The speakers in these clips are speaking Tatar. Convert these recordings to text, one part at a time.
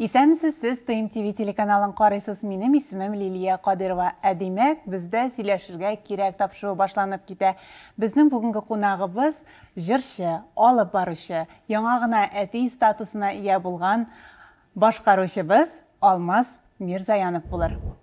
Исәнмесез сез Тыйм ТВ телеканалын карыйсыз минем исемем Лилия Кадырова. Ә димәк, бездә сөйләшергә кирәк тапшыруы башланып китә. Безнең бүгенге кунагыбыз җырчы, алып баручы, яңа гына әти статусына ия булган башкаручыбыз Алмаз Мирзаянов булыр.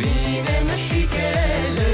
Минем шикелле.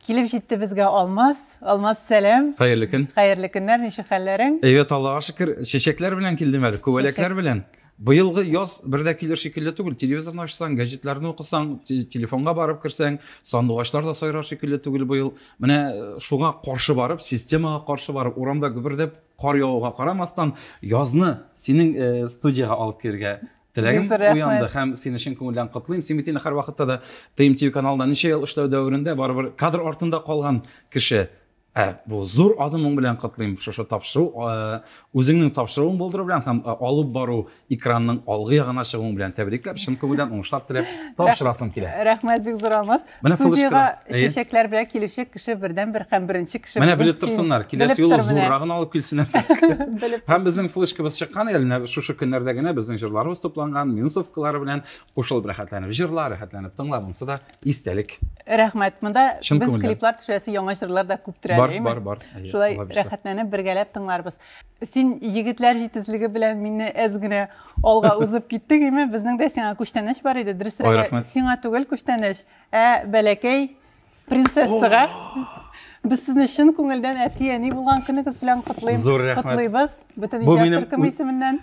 Килеп җитте безгә Алмаз. Алмаз, сәлам. Хәерле көн. Хәерле көннәр, ничек хәлләрең? Әйбәт, Аллага шөкер. Чәчәкләр белән килдем әле, күбәләкләр белән. Быелгы яз бер дә килер шикелле түгел. Телевизорны ачсаң, газетларны укысаң, телефонга барып керсәң, сандугачлар да сайрар шикелле түгел быел. Менә э, шуңа каршы барып, системага каршы барып, урамда гөбердәп кар явуга карамастан, язны синең э, студияга алып кергә теләгем уянды һәм сине чын күңелдән котлыйм син бит инде һәрвакытта да тмтв каналында ничә ел эшләү дәверендә барыбер кадр артында калган кеше ә бу зур адымың белән котлыйм шушы тапшыру үзеңнең тапшыруың булдыру белән һәм алып бару экранның алгы ягына чыгуың белән тәбрикләп чын күңелдән уңышлар теләп тапшырасым килә рәхмәт бик зур алмаз Менә Студиягә чәчәкләр белән килүче кеше бердән бер һәм беренче кеше. Менә белеп торсыннар, киләсе юлы зуррагын алып килсеннәр. Һәм безнең флешкабыз чыккан әле менә шушы көннәрдә генә безнең җырларыбыз тупланган, минусовкалары белән кушылып рәхәтләнеп җырла, рәхәтләнеп тыңла, монысы да истәлек. Рәхмәт. Монда без клиплар төшәсе яңа җырлар да күп тирәли. Бар, бар, бар. Шулай рәхәтләнеп бергәләп тыңларбыз. Син егетләр җитезлеге белән мине әз генә алга узып киттең, име? Безнең дә сиңа күчтәнәч бар иде. Дөресрәге, сиңа түгел күчтәнәч, ә бәләкәй принцессага. Без сезне чын күңелдән әти-әни булган көнегез белән котлыйм. Зур рәхмәт. Котлыйбыз. Бөтен икән төркем исеменнән.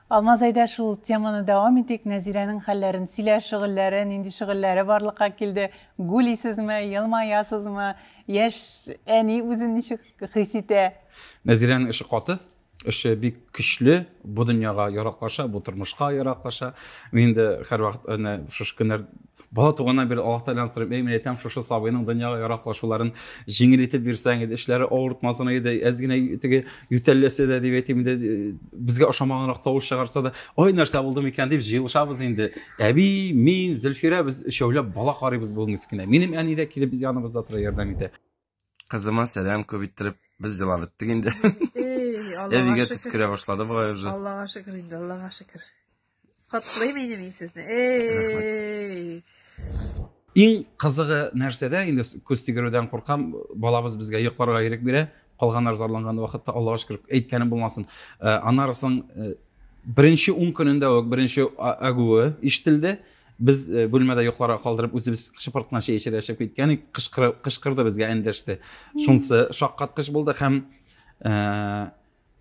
Алмаз әйдә шул теманы дәвам итик, Нәзирәнең хәлләрен сөйлә, шөгыльләре, нинди шөгыльләре барлыкка килде, гүлисезме, елмаясызмы, яшь әни үзен ничек хис итә? Нәзирәнең эше каты, эше бик көчле, бу дөньяга яраклаша, бу тормышка яраклаша. Мин инде һәрвакыт әнә шушы көннәр Бала туганнан бирле Аллаһ Тәгаләне сорыйм, әй, мин әйтәм, шушы сабыйның дөньяга яраклашуларын җиңел итеп бирсәң иде, эшләре авыртмасын иде, әз генә теге ютәлләсә дә дип әйтим инде, безгә ошамаганрак тавыш чыгарса да, ой, нәрсә булды микән дип җыелышабыз инде. Әби, мин, Зөлфирә без өчәүләп бала карыйбыз бу мискенә. Минем әни дә килеп яныбызда тора, ярдәм итә. Кызыма сәлам күп иттереп, без елап беттек инде. Әбигә төс керә башлады бугай уже. Аллага шөкер инде, Аллага шөкер. Котлыйм инде мин сезне. Эй! Иң кызыгы нәрсәдә, инде күз тигерүдән куркам, балабыз безгә йокларга ирек бирә, калганнар зарланган вакытта, Аллага шөкер, әйткәнем булмасын. Э, Анарысың э, беренче ун көнендә үк беренче агуы ишетелде. Без бүлмәдә йокларга калдырып, үзебез шыпыртына чәй эчәргә чыгып киткән идек. Кычкырып, кычкырды безгә эндәште. Шунсы шаккаткыч булды һәм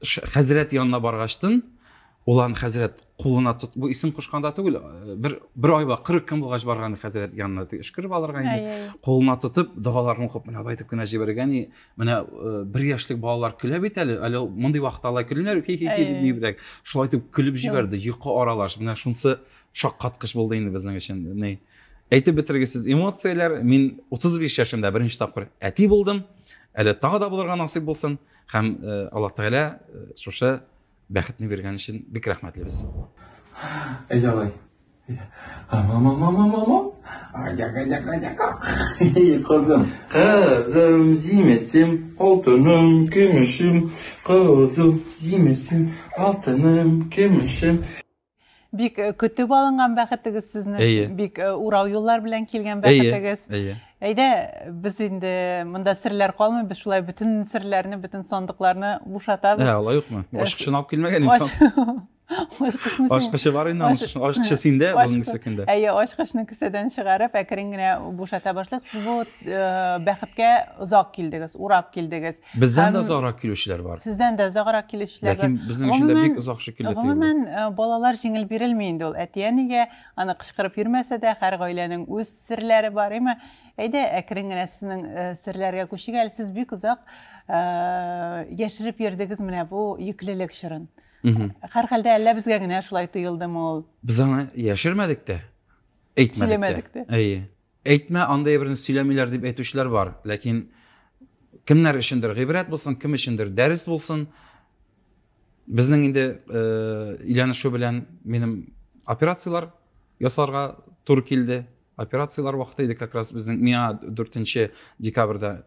хәзрәт янына баргачтын, ул аны хәзрәт кулына тот, бу исем кушканда түгел, бер бер айга 40 көн булгач барган хәзрәт янына өшкереп алырга инде. Кулына тотып, догаларын укып, менә алай дип кенә җибәргән. Менә бер яшьлек балалар көлә бит әле, әле мондый вакытта алай көлмиләр, хи-хи-хи дип. Шулай итеп көлеп җибәрде, йокы аралаш. Менә шунсы Шаккаткыч булды инде безнең өчен. Ни әйтеп бетергесез эмоцияләр. Мин 35 яшемдә беренче тапкыр әти булдым. Әле тагы да булырга насыйп булсын. Һәм э, Аллаһ Тәгалә э, шушы бәхетне биргән өчен бик рәхмәтлебез. Әйдә алай. Мама-мама-мама. Адяка-дяка-дяка. Кызым. Кызым, зимесем, алтыным, көмешем. Кызым, зимесем, алтыным, көмешем. Бик э, көтеп алынган бәхетегез сезнең. Әйе. Бик э, урау юллар белән килгән бәхетегез. Әйе. Әйдә, без инде монда серләр калмый, без шулай бөтен серләрне, бөтен сандыкларны бушатабыз. Ә, алай юкмы? Э, Ашкычын алып килмәгән инде. Ашкычы бар инде, ашкычы синдә, бүгенге көндә. Әйе, ашкычны кесәдән чыгарып, әкрен генә бушата башлык. Сез бу бәхеткә озак килдегез, урап килдегез. Бездән дә озаграк килүчеләр бар. Сездән дә озаграк килүчеләр бар. Ләкин безнең өчен дә бик озак шикелле тоелды. Гомумән, э, балалар җиңел бирелми инде ул әти-әнигә, аны кычкырып йөрмәсә дә, һәр гаиләнең үз серләре бар, әйме? Әйдә, әкрен генә сезнең э, серләргә күчик әле. Сез бик озак э, яшереп йөрдегез менә бу йөклелек чорын. Һәр хәлдә әллә безгә генә шулай тоелдымы ул? Без аны яшермәдек тә, әйтмәдек тә. Әйе. Әйтмә, андый әйберне сөйләмиләр, дип әйтүчеләр бар. Ләкин кемнәр өчендер гыйбрәт булсын, кем өчендер дәрес булсын. Безнең инде өйләнешү белән минем операцияләр ясарга туры килде. Операцияләр вакыты иде, как раз безнең миңа 4 декабрьдә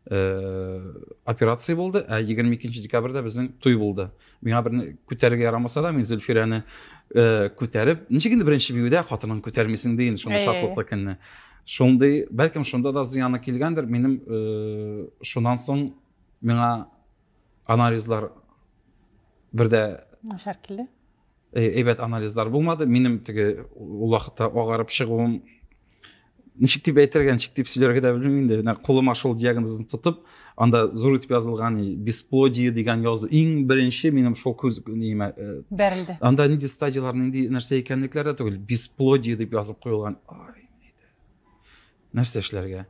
операция булды ә егерме икенче декабрьдә безнең туй булды миңа берне күтәрергә ярамаса да мин зөлфирәне ә, күтәреп ничек инде беренче биюдә хатынын күтәрмисең ди инде шундый шатлыклы көнне шундый бәлкем шунда да зыяны килгәндер минем ә, шуннан соң миңа анализлар бердә начар килде Э, әйбәт анализлар булмады минем теге ул вакытта агарып чыгуым ничек дип әйтергә ничек дип сөйләргә дә белмим инде менә кулыма шул диагнозны тотып анда зур итеп язылган бесплодие дигән язу иң беренче минем шул күз неемә э, бәрелде анда нинди стадиялар нинди нәрсә икәнлекләре дә түгел бесплодие дип язып куелган ай нәрсә эшләргә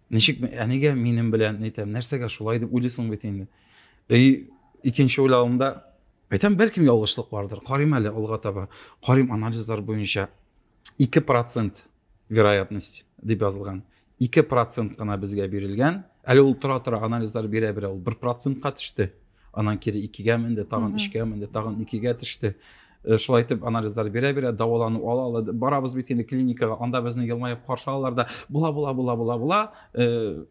ничек әнигә минем белән әйтәм нәрсәгә шулай дип уйлыйсың бит инде и икенче уйлавымда Әйтәм, бәлкем ялгышлык бардыр. Карыйм әле алга таба. Карыйм анализлар буенча 2% вероятность дип язылган. 2% кына безгә бирелгән. Әле ул тора-тора анализлар бирә-бирә ул 1%-ка төште. Анан кире 2-гә менде, тагын 3-гә менде, тагын 2-гә төште. Э, шулай итеп анализлар бирә-бирә дәвалану ала ала барабыз бит инде клиникага, анда безне елмаеп каршы алалар да, була була була була була. Э,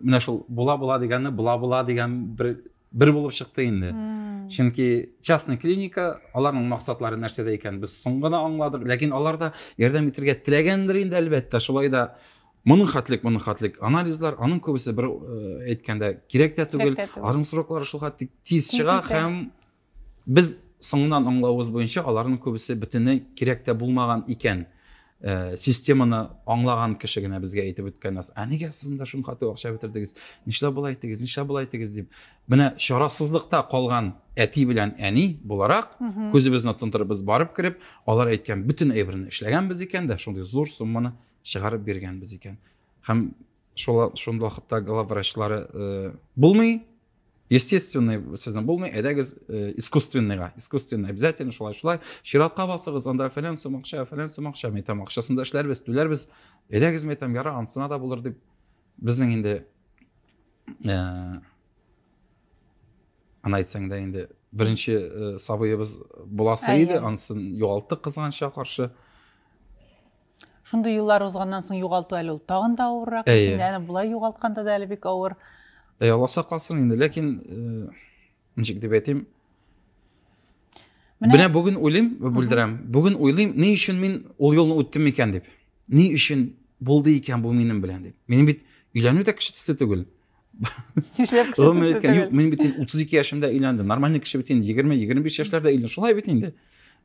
менә шул була була дигәнне була була дигән бер бер булып чыкты инде чөнки частный клиника аларның максатлары нәрсәдә икәнен без соң гына аңладык ләкин алар да ярдәм итәргә теләгәндер инде әлбәттә шулай да моның хәтлек моның хәтлек анализлар аның күбесе бер әйткәндә кирәк тә түгел аларның сроклары шул хәтлек тиз чыга һәм без соңыннан аңлавыбыз буенча аларның күбесе бөтенләй кирәк тә булмаган икән Э, системаны аңлаган кеше генә безгә әйтеп үткән нәрсә ә нигә сез монда шуңа күп акча бетердегез нишләп болай иттегез нишләп болай иттегез дип менә чарасызлыкта калган әти белән әни буларак күзебезне тондырып без барып кереп алар әйткән бөтен әйберне эшләгәнбез икән дә шундый зур сумманы чыгарып биргәнбез икән һәм шул шул вакытта главврачлары э, булмый естественный сезнең булмый әйдәгез э, искусственныйга искусственный обязательно шулай шулай чиратка басыгыз анда фәлән сум акча фәлән сум акча мен әйтәм акчасын да эшләрбез түләрбез әйдәгез мен әйтәм яра анысына да булыр дип безнең инде ә, аны әйтсәң дә инде беренче ә, сабыебыз буласы иде анысын югалттык кызганычка каршы Шундый еллар узганнан соң югалту әле ул тагын да авыррак. Әйе. Син әнә болай югалтканда да әле бик авыр. Әй, Алла сакласын инде, ләкин э, ничек дип әйтим? Менә, Менә бүген уйлыйм, бүлдерәм. Бүген уйлыйм, ни өчен мин ул юлны үттем микән дип. Ни өчен булды икән бу минем белән дип. Минем бит өйләнү дә кеше төсле түгел. Нишләп кеше Гомер иткән. Юк, мин бит 32 яшемдә өйләндем. Нормальный кеше бит инде 20-25 яшьләрдә өйләнде. Шулай бит инде.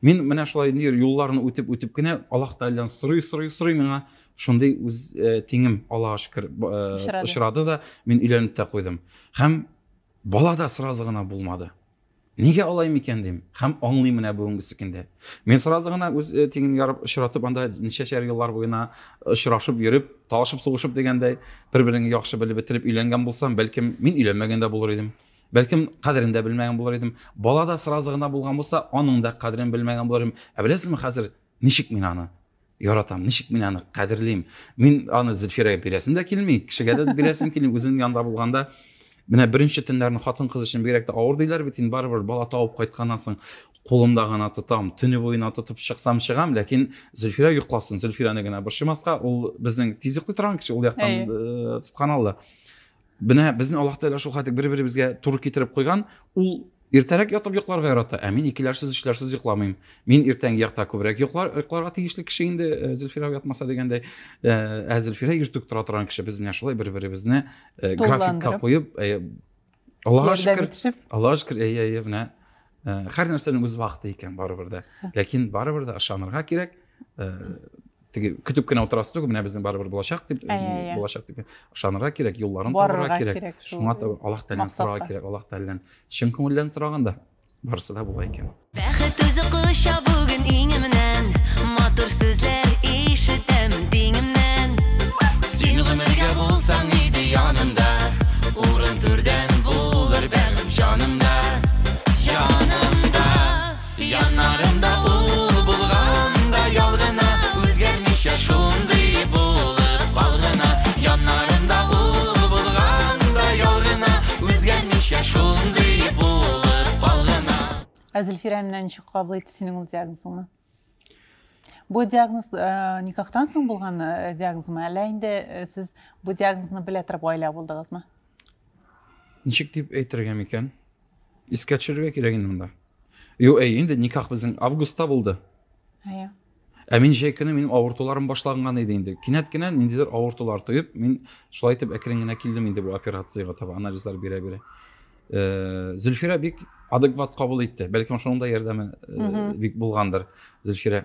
Мин менә шулай инде юлларны үтеп үтеп кенә Аллаһ Тәгаләдән сорый сорый сорый миңа шундый үз э, тиңем Аллаһка шөкер э, очрады да мин өйләнеп тә куйдым. Һәм бала да сразу гына булмады. Нигә алай микән дим? Һәм аңлыйм менә бүгенгесе көндә. Мин сразу гына үз э, тиңен ярып очратып анда ничәшәр еллар буена очрашып йөреп, талашып сугышып дигәндәй, бер-береңне яхшы белеп бетереп өйләнгән булсам, бәлкем мин өйләнмәгән дә булыр идем. Бәлкем кадерен дә белмәгән булыр идем. Бала да сразу гына булган булса, аның да кадерен белмәгән булыр идем. Ә беләсезме хәзер ничек мин аны? Яратам, ничек мин аны кадерлим. Мин аны Зөлфирәгә бирәсем дә килми, кешегә дә бирәсем килми. Үзем янында булганда менә беренче төннәрне хатын кыз өчен бигрәк тә авыр диләр бит инде барыбер бала табып кайтканнан соң кулымда гына тотам төне буена тотып чыксам чыгам ләкин зөлфирә йокласын зөлфирәне генә борчымаска ул безнең тиз йоклый торган кеше ул яктан э, субханалла Менә безне Аллаһ Тәгалә шул хәтлек бер-беребезгә туры китереп куйган, ул иртәрәк ятып йокларга ярата, ә мин икеләрсез, өчләрсез йокламыйм. Мин иртәнге якта күбрәк йоклар, йокларга тиешле кеше инде, э, Зөлфирә ятмаса дигәндәй. Э, ә Зөлфирә иртүк тора торган кеше, без менә шулай бер-беребезне э, графикка куеп, Аллаһка шөкер, Аллаһка шөкер, әйе, әйе, менә һәр нәрсәнең үз вакыты икән барыбер дә. Ләкин барыбер дә ышанырга кирәк. теге көтеп кенә утырасы түгел менә безнең барыбер булачак дип ә, ә, ә. булачак дип ышанырга кирәк юлларын табарга кирәк, кирәк шуңа таба аллаһ тәгаләдән сорарга кирәк аллаһ тәгаләдән чын күңелдән сораганда барысы да була икән бәхет үзе коча бүген иңемнән матур сүзләр ишетәм диңемнән син гомергә булсаң иде янымда урын түрдән булыр бәгым җанымда Яннарымда ул булганда ял гына, Үзгәрмичә шундый булып кал гына. Яннарымда ул булганда ял гына, Үзгәрмичә шундый булып кал гына. Ә Зөлфирә менә ничек кабул итте синең ул диагнозыңны? Бу диагноз э, никахтан соң булган э, диагнозмы, әллә инде э, сез бу диагнозны белә торып гаилә булдыгызмы? Ничек дип әйтергә микән? Искә төшерергә кирәк инде монда. Ю, әй, инде никах безнең августта булды. Әйе. Ә мин җәй көне минем авыртуларым башланган иде инде. Кинәт кенә ниндидер авыртулар тоеп, мин шулай итеп әкрен генә килдем инде бу операциягә таба, анализлар бирә-бирә. Э, Зөлфирә бик адекват кабул итте. Бәлкем шуның да ярдәме э, бик булгандыр Зөлфирә.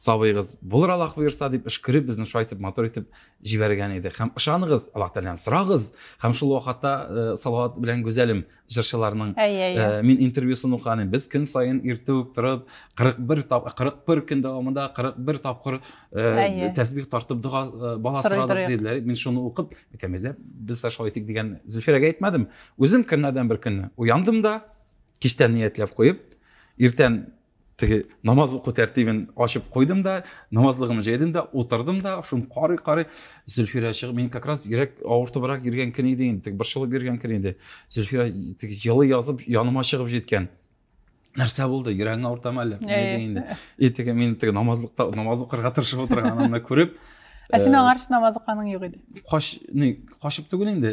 Сабыегыз, Булыр Аллаһ боерса, дип өшкереп, безне шулай итеп матур итеп җибәргән иде. Һәм ышаныгыз, Аллаһ Тәгаләдән сорагыз. Һәм шул вакытта э, Салават белән Гүзәлем җырчыларның э, мин интервьюсын укыган идем. Без көн саен иртә үк торып, 41 тап 41 көн дәвамында 41 тапкыр э, тәсбих тартып дога бала сорадык диделәр. Мин шуны укып, әйтәмдә, без дә шулай итик дигән Зөлфирәгә әйтмәдем. Үзем көннәрдән бер көнне уяндым да, кичтән ниятләп куеп, иртән теге намаз уку тәртибен ачып куйдым да намазлыгымны җәйдем дә утырдым да шуны карый карый зөлфирә чыгып мин как раз йөрәк авыртыбрак йөргән көн иде инде теге борчылып йөргән көн иде зөлфирә теге елый язып яныма чыгып җиткән нәрсә булды йөрәгең авыртамы әллә не диде инде и теге мин теге намазлыкта намаз укырга тырышып утырганымны күреп ә син аңарчы намаз укыганың юк иде кач не качып түгел инде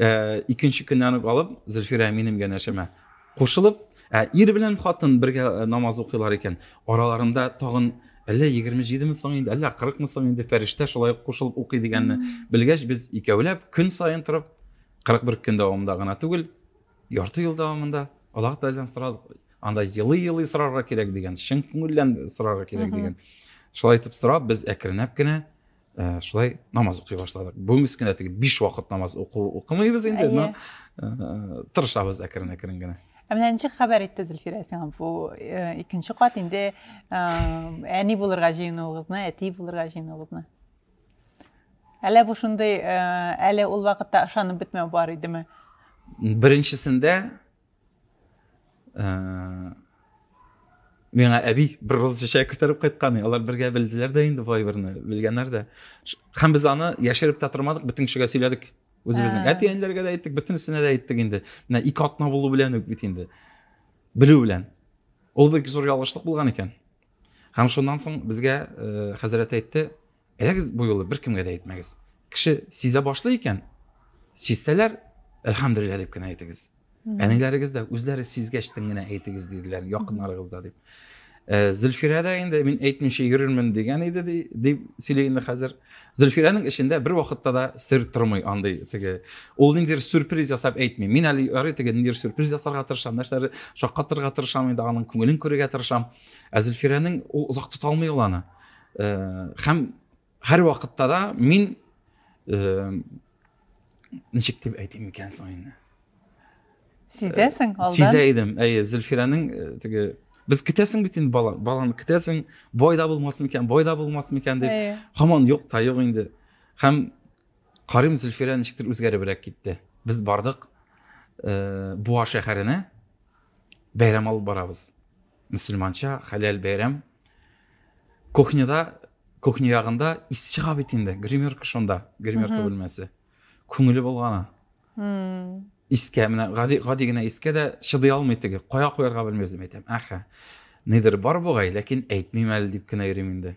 ә, икенче көннән үк алып зөлфирә минем янәшәмә кушылып ә ир белән хатын бергә э, намаз укыйлар икән араларында тагын әллә егерме җидеме соң инде әллә кырыкмы соң инде фәрештә шулай ук кушылып укый дигәнне белгәч без икәүләп көн саен торып кырык бер көн дәвамында гына түгел ярты ел дәвамында аллаһ тәгаләдән сорадык анда елый елый сорарга кирәк дигән чын күңелдән сорарга кирәк дигән шулай итеп сорап без әкренләп кенә ә, шулай намаз укый башладык бүгінгі кенә теге биш вакыт намаз уку укымыйбыз инде но ә, тырышабыз әкрен әкрен генә ә менә ничек хәбәр итте зөлфирә сиңа бу э, икенче кат инде э, әни булырга җыенуыгызны әти булырга җыенуыгызны әллә бу шундый э, әле ул вакытта ышанып бетмәү бар идеме беренчесендә ә, миңа әби бер роз чәчәк күтәреп кайткан алар бергә белделәр дә инде бай берне белгәннәр дә һәм без аны яшереп тә тормадык бөтен кешегә сөйләдек үзебезнең әти әниләргә дә әйттек бөтенесенә дә әйттек инде менә ике атна булу белән үк бит инде белү белән ул бик зур ялгышлык булган икән һәм шуннан соң безгә э, хәзрәт әйтте Әйдәгез, бу юлы беркемгә дә әйтмәгез. Кеше сизә башлый икән, сизсәләр, әлхәмдүлилләһ дип кенә әйтегез. Әниләрегез дә үзләре сизгәч тен генә әйтегез диделәр, якыннарыгыз да дип. Э, Зөлфирә дә инде мин әйтмичә йөрермен дигән иде дип сөйли инде хәзер. Зөлфирәнең эчендә бер вакытта да сер тормый андый теге. Ул ниндидер сюрприз ясап әйтми. Мин әле ярый теге ниндидер сюрприз ясарга тырышам, нәрсәләр шаккатырга тырышам, инде аның күңелен күрергә тырышам. Ә Зөлфирәнең ул озак тота алмый ул аны. э, һәм һәр вакытта да мин э, ничек дип әйтим икән соң инде сизәсең э, алдан сизә идем әйе зөлфирәнең э, теге без көтәсең бит инде бала баланы көтәсең бой да булмас микән бой да булмас микән дип һаман юк та юк инде һәм карыйм зөлфирә ничектер үзгәребрәк китте без бардык э, буа шәһәренә бәйрәм алып барабыз мөселманча хәләл бәйрәм кухняда кухня ягында ис чыга бит инде гримерка шунда гримерка бүлмәсе күңеле болгана искә менә гади гади генә искә дә чыдый алмый теге кая куярга белмәс дип әйтәм әхә нидер бар бугай ләкин әйтмим әле дип кенә йөрим инде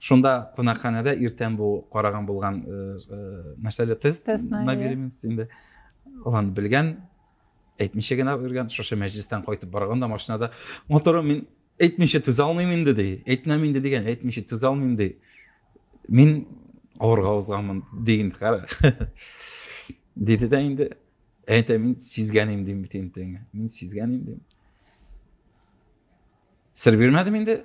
Шунда кунакханәдә иртән бу караган булган э, э, мәсьәлә тест Тест, на на иә. беременность инде. Ул аны белгән, әйтмичә генә йөргән, шушы мәҗлестән кайтып барганда машинада моторым мин әйтмичә түзә алмыйм инде ди. Әйтмәм инде дигән, әйтмичә түзә алмыйм ди. Мин авырга узганмын дигән кара. Диде дә инде. Әйтә мин сизгән идем дим бит инде. Мин сизгән идем. Сер бирмәдем инде.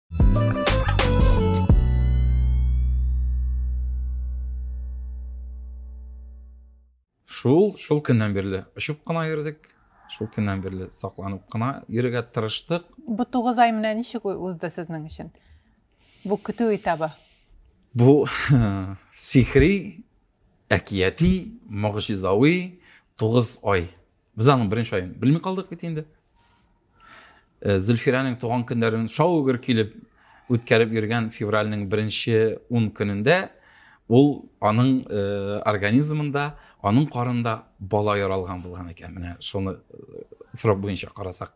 шул шул көннән бирле очып кына йөрдек шул көннән бирле сакланып кына йөрергә тырыштык бу тугыз ай менә ничек узды сезнең өчен бу көтү этабы бу сихри әкияти могҗизави тугыз ай Без аның беренче аен белми калдык бит инде. Э, Зөлфирәнең туган көннәрен шау-гөр килеп үткәреп йөргән февральнең беренче ун көнендә ул аның э, организмында, аның карында бала яралган булган икән. Менә шуны э, срок буенча карасак.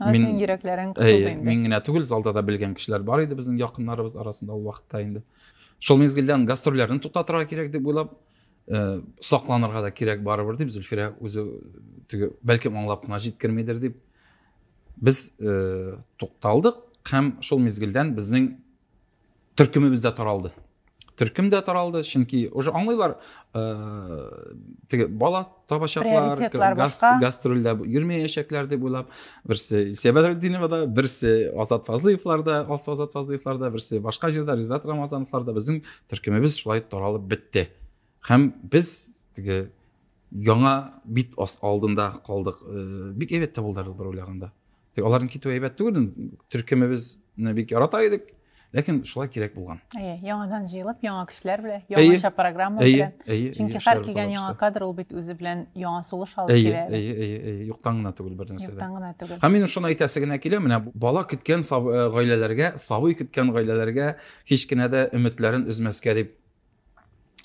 Мин, йөрәкләрең кысылды инде. Мин генә түгел, залда да белгән кешеләр бар иде безнең якыннарыбыз арасында ул вакытта инде. Шул мизгелдән гастрольләрне туктатырга кирәк дип уйлап, э, сакланырга да кирәк барыбер дип Зөлфирә үзе теге бәлкем аңлап кына җиткермидер дип без э, тукталдык һәм шул мизгелдән безнең төркемебез дә таралды төркем дә таралды чөнки уже аңлыйлар э, теге бала табачаклар гастрольдә йөрмәячәкләр дип уйлап берсе илсия бәдретдиновада берсе азат фазлыевларда алсу азат фазлыевларда берсе башка җирдә ризат рамазановларда безнең төркемебез шулай таралып бетте һәм без теге яңа бит алдында калдык э, бик әйбәт тә булды бер уйлаганда тик аларның китүе әйбәт түгел төркемебезне бик ярата идек ләкин шулай кирәк булган әйе яңадан җыелып яңа көчләр белән яңаша программа белән әйе чөнки һәр килгән яңа кадр ул бит үзе белән яңа сулыш алып килә әйе әйе әйе юктан гына түгел бер нәрсә юктан гына түгел һәм минем шуны әйтәсе генә килә менә бала көткән э, гаиләләргә сабый көткән гаиләләргә һич кенә дә өметләрен өзмәскә дип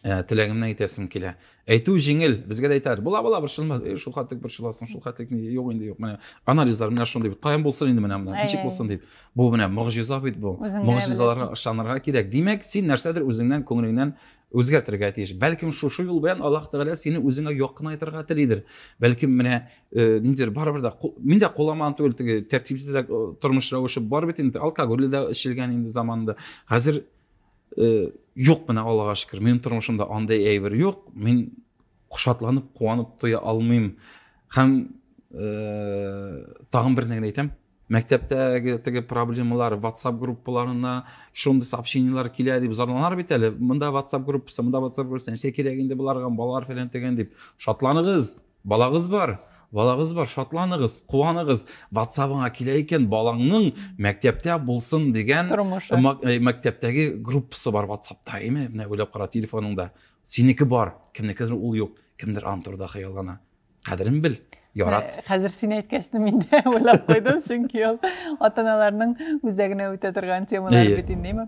ә, теләгемнән итәсем килә әйтү җиңел безгә дә әйтәләр була була борчылма э, шул хәтлек борчыласың шул хәтлек юк инде юк менә анализлар менә шундый бит каян булсын инде менә менә ничек булсын дип бу менә могҗиза бит бу могҗизаларга ышанырга кирәк димәк син нәрсәдер үзеңнән күңелеңнән үзгәртергә тиеш бәлкем шушы юл белән аллаһ тәгалә сине үзеңә якынайтырга телидер бәлкем менә э, ниндидер барыбер дә мин дә куламан түгел теге тәртипсезрәк э, тормыш рәвеше бар бит инде алкоголь дә эчелгән инде заманында хәзер юк менә аллага шөкер минем тормышымда андай әйбер юк мин шатланып куанып туя алмыйм һәм ә, тагын бер нәрсә әйтәм мәктәптәге теге проблемалар ватсап группаларына шундый сообщениелар килә дип зарланар бит әле мында ватсап группасы мында ватсап группасы нәрсә кирәк инде боларга балалар фәлән тегән дип шатланыгыз Балагыз бар! Балагыз бар! Шатланыгыз, куаныгыз! Ватсабыңа килә икән, балаңның мәктәптә булсын дигән Тормышы. Э, мәктәптәге группасы бар ватсапта, әйме? Менә уйлап кара, телефоныңда. Синеке бар, кемнекедер ул юк. Кемдер аны турыда хыяллана. Кадерен бел, ярат. Э, хәзер син әйткәчне мин дә уйлап куйдым, чөнки ул ата-аналарның үзәгенә үтә торган темалар бит инде, әйме?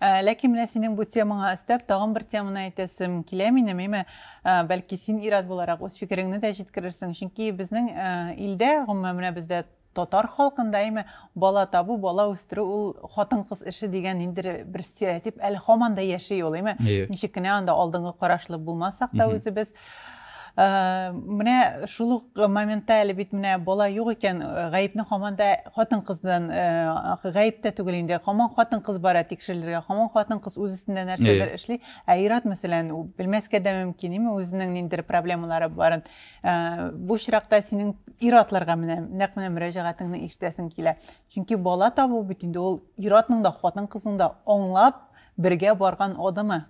Ә, ләкин менә синең бу темаңа өстәп тагын бер теманы әйтәсем килә минем, әйме, ә, бәлки син ирад буларак үз фикереңне дә җиткерерсең, чөнки безнең ә, илдә, гомумән менә бездә татар халкында, әйме, бала табу, бала үстерү ул хатын-кыз эше дигән ниндидер бер стереотип әле һаман да яши ул, әйме, ничек кенә анда алдынгы карашлы булмасак та үзебез, Менә шул ук моментта әле бит менә бала юк икән, гаепне һаман да хатын-кыздан, гаеп тә түгел инде, һаман хатын-кыз бара тикшерелергә, һаман хатын-кыз үз өстендә нәрсәдер эшли, ә ир-ат мәсәлән, белмәскә дә мөмкин, име, үзенең ниндидер проблемалары барын. Бу очракта синең ир-атларга менә нәкъ менә мөрәҗәгатеңне ишетәсең килә. Чөнки бала табу бит инде ул ир-атның да, хатын-кызның да аңлап бергә барган адымы.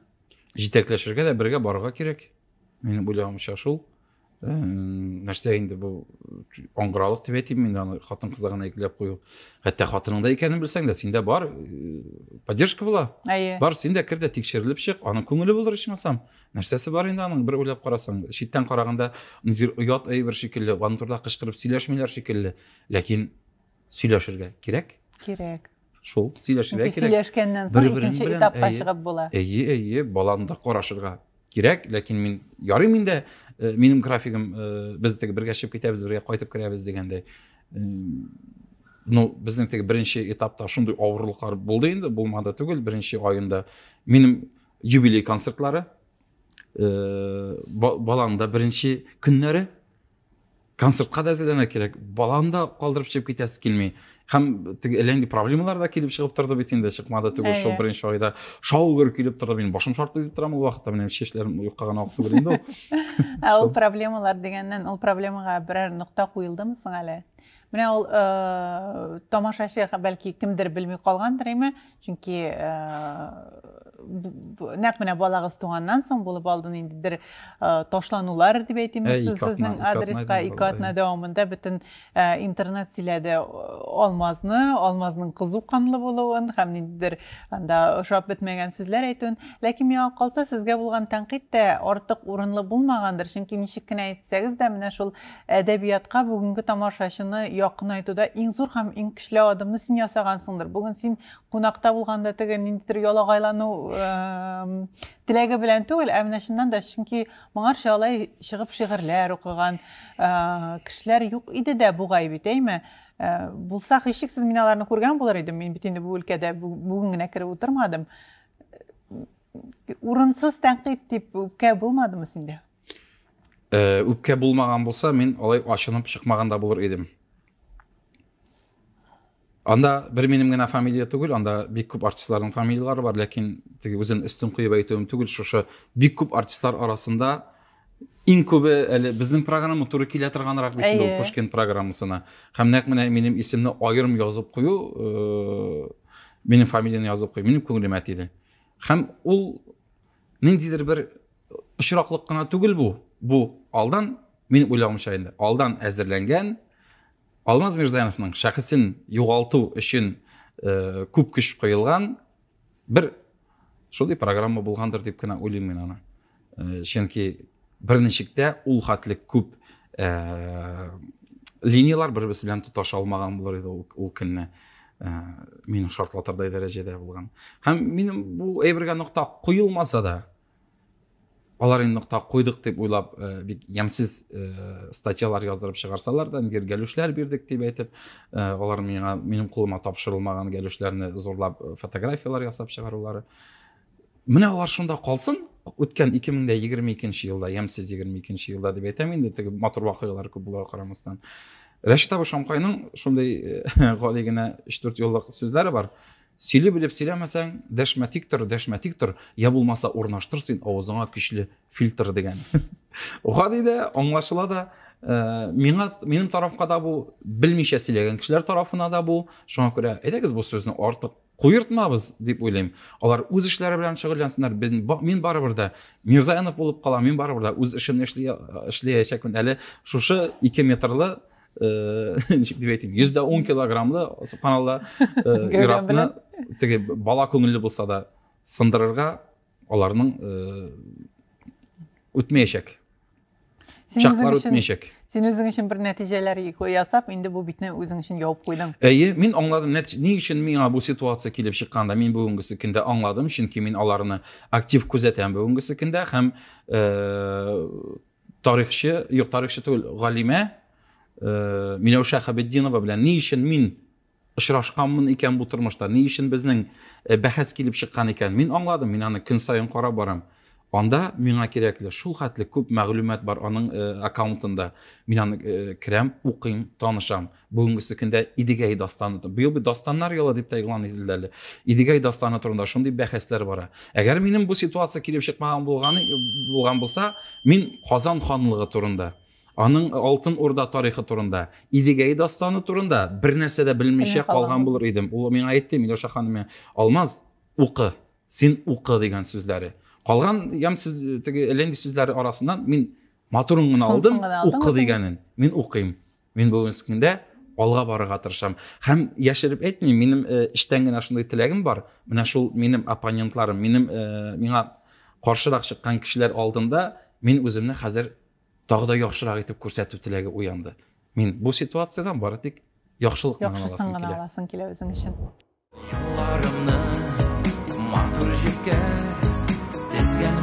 җитәкләшергә дә бергә барырга кирәк минем уйлавымча шул э, нәрсә инде бу аңгыралык дип әйтим мин аны хатын кызга гына икеләп кую хәтта хатыныңда икәнен белсәң дә синдә бар э, поддержка була әйе бар син дә кер дә тикшерелеп чык аның күңеле булыр ичмасам нәрсәсе бар инде аның бер уйлап карасаң читтән караганда ниндидер оят әйбер шикелле аның турында кычкырып сөйләшмиләр шикелле ләкин сөйләшергә кирәк. Кирәк. Шул, сөйләшергә кирәк. Сөйләшкәннән соң икенче этапка чыгып була. Әйе, әйе, баланы да карашырга кирәк, ләкин мин ярый миндә э, минем графигым э, без теге бергә чыгып китәбез, бергә кайтып керәбез дигәндәй. Э, ну, безнең теге беренче этапта шундый авырлыклар булды инде, булмады түгел, беренче аенда минем юбилей концертлары, баланың да беренче көннәре, концертка да әзерләнә кирәк баланы да калдырып чыгып китәсе килми һәм теге әллә нинди проблемалар да килеп чыгып торды бит инде чыкмады түгел шул беренче айда шау гөр килеп торды минем башым шарт итеп тора ул вакытта менә чәчләрем юкка гына ак түгел инде ул ул проблемалар дигәннән ул проблемага берәр нокта куелдымы соң әле менә ул тамашачы бәлки кемдер белми калгандыр әмма чөнки нәкъ менә балагыз туганнан соң булып алды инде бер ташланулар дип әйтимме сезнең адреска ике атна дәвамында бөтен интернет сөйләде алмазны алмазның кызу канлы булуын һәм ниндидер анда ошап бетмәгән сүзләр әйтүен ләкин миңа калса сезгә булган тәнкыйть тә артык урынлы булмагандыр чөнки ничек кенә әйтсәгез дә менә шул Әдәбиятка бүгенге тамашачыны якынайтуда иң зур һәм иң көчле адымны син ясагансыңдыр. Бүген син кунакта булганда теге ниндидер ялагайлану теләге белән түгел, ә менә чыннан да, чөнки моңарчы алай чыгып шигырьләр укыган кешеләр юк иде дә бугай бит, әйме? Булса, һичшиксез мин аларны күргән булыр идем. Мин бит инде бу өлкәдә бүген генә кереп утырмадым. Урынсыз тәнкыйть дип үпкә булмадымы синдә? Э, үпкә булмаган булса мин алай ачынып чыкмаган да булыр идем анда бер минем генә фамилия түгел анда бик күп артистларның фамилиялары бар ләкин теге үзен өстен куеп әйтүем түгел шушы бик күп артистлар арасында иң күбе әле безнең программа туры килә торганрак бит инде ул пушкин программасына һәм нәкъ менә минем исемне аерым язып кую э, минем фамилияны язып кую минем күңелемә тиде һәм ул Ниндидер бер очраклык кына түгел бу. Бу алдан, минем уйлавымча инде, алдан әзерләнгән Алмаз Мирзаяновның шәхесен югалту өчен э, күп көч куелган бер шундый программа булгандыр дип кенә уйлыйм мин аны. Э, чөнки бер ничек тә ул хәтле күп линиялар бер берсе белән тоташа алмаган булыр иде ул, ул көнне ә, мине шартлатырдай дәрәҗәдә булган һәм минем бу әйбергә нокта куелмаса да алар инде нокта куйдык дип уйлап ә, бик ямьсез ә, статьялар яздырып чыгарсалар да нигер гәлүшләр бирдек дип әйтеп ә, алар миңа минем кулыма тапшырылмаган гәлүшләрне зурлап фотографиялар ясап чыгарулары менә алар шунда калсын үткән 2022 елда ямьсез 22 елда дип әйтәм инде теге матур вакыйгалар күп булуга карамастан рәшит абый шамкайның шундый э, гади генә өч дүрт юллык сүзләре бар сөйли белеп сөйләмәсәң дәшмә тик тор дәшмә тик тор я булмаса урнаштыр син авызыңа көчле фильтр дигән гади дә аңлашыла да ә, миңа минем тарафка да бу белмичә сөйләгән кешеләр тарафына да бу шуңа күрә әйдәгез бу сүзне артык Куертмабыз, дип уйлыйм. Алар үз эшләре белән шөгыльләнсеннәр. Мин барыбер дә Мирзаянов булып калам, мин барыбер дә үз эшемне эшли, эшләячәкмен. Әле шушы 2 метрлы э, ничек дип әйтим, 110 килограммлы субханалла э, иратны теге бала күңелле булса да сындырырга аларның э, үтмәячәк. Чаклар үтмәячәк. Син үзең өчен бер нәтиҗәләр ясап, инде бу битне үзең өчен ябып куйдың. Әйе, мин аңладым, ни өчен миңа бу ситуация килеп чыкканда, мин бүгенгесе көндә аңладым, чөнки мин аларны актив күзәтәм бүгенгесе көндә һәм э, тарихчы, юк, тарихчы түгел, галимә э, Миләүшә Хәбетдинова белән ни өчен мин Очрашканмын икән бу тормышта, ни өчен безнең бәхәс килеп чыккан икән? Мин аңладым, мин аны көн саен карап барам. Анда миңа кирәкле шул хәтле күп мәгълүмат бар аның аккаунтында. Мин аны керәм, укыйм, танышам. Бүгенгесе көндә Идегәй дастаны. Быел бит дастаннар елы дип тә игълан ителде әле. Идегәй дастаны турында шундый бәхәсләр бара. Әгәр минем бу ситуация килеп чыкмаган булган булса, мин Казан ханлыгы турында Аның Алтын Урда тарихы турында, Идегәй дастаны турында бернәрсә дә белмичә калган булыр идем. Ул миңа әйтте, Миләүшә ханым, Алмаз, укы, син укы дигән сүзләре. Калган ям сез теге Ленди сүзләре арасыннан мин матурын гына алдым, укы дигәнен. Мин укыйм. Мин бүгенге көндә алга барырга тырышам. Һәм яшереп әйтмим, минем э, эчтән генә шундый теләгем бар. Менә шул минем оппонентларым, минем э, миңа каршырак чыккан кешеләр алдында мин үземне хәзер тагы да яхшырак итеп күрсәтү теләге уянды мин бу ситуациядән бары тик яхшылыкны гына аласым килә аласың килә үзең өчен юлларымны матур җепкә тезгән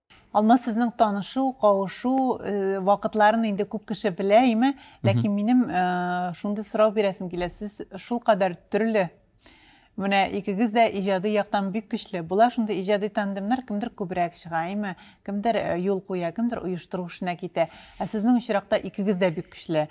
Алма сезнең танышу, кавышу вакытларын инде күп кеше белә, име? Ләкин минем шундый сорау бирәсем килә. Сез шул кадәр төрле. Менә икегез дә иҗади яктан бик көчле. Була шундый иҗади тандемнар, кемдер күбрәк чыга, име? Кемдер юл куя, кемдер оештыру эшенә китә. Ә сезнең очракта икегез дә бик көчле.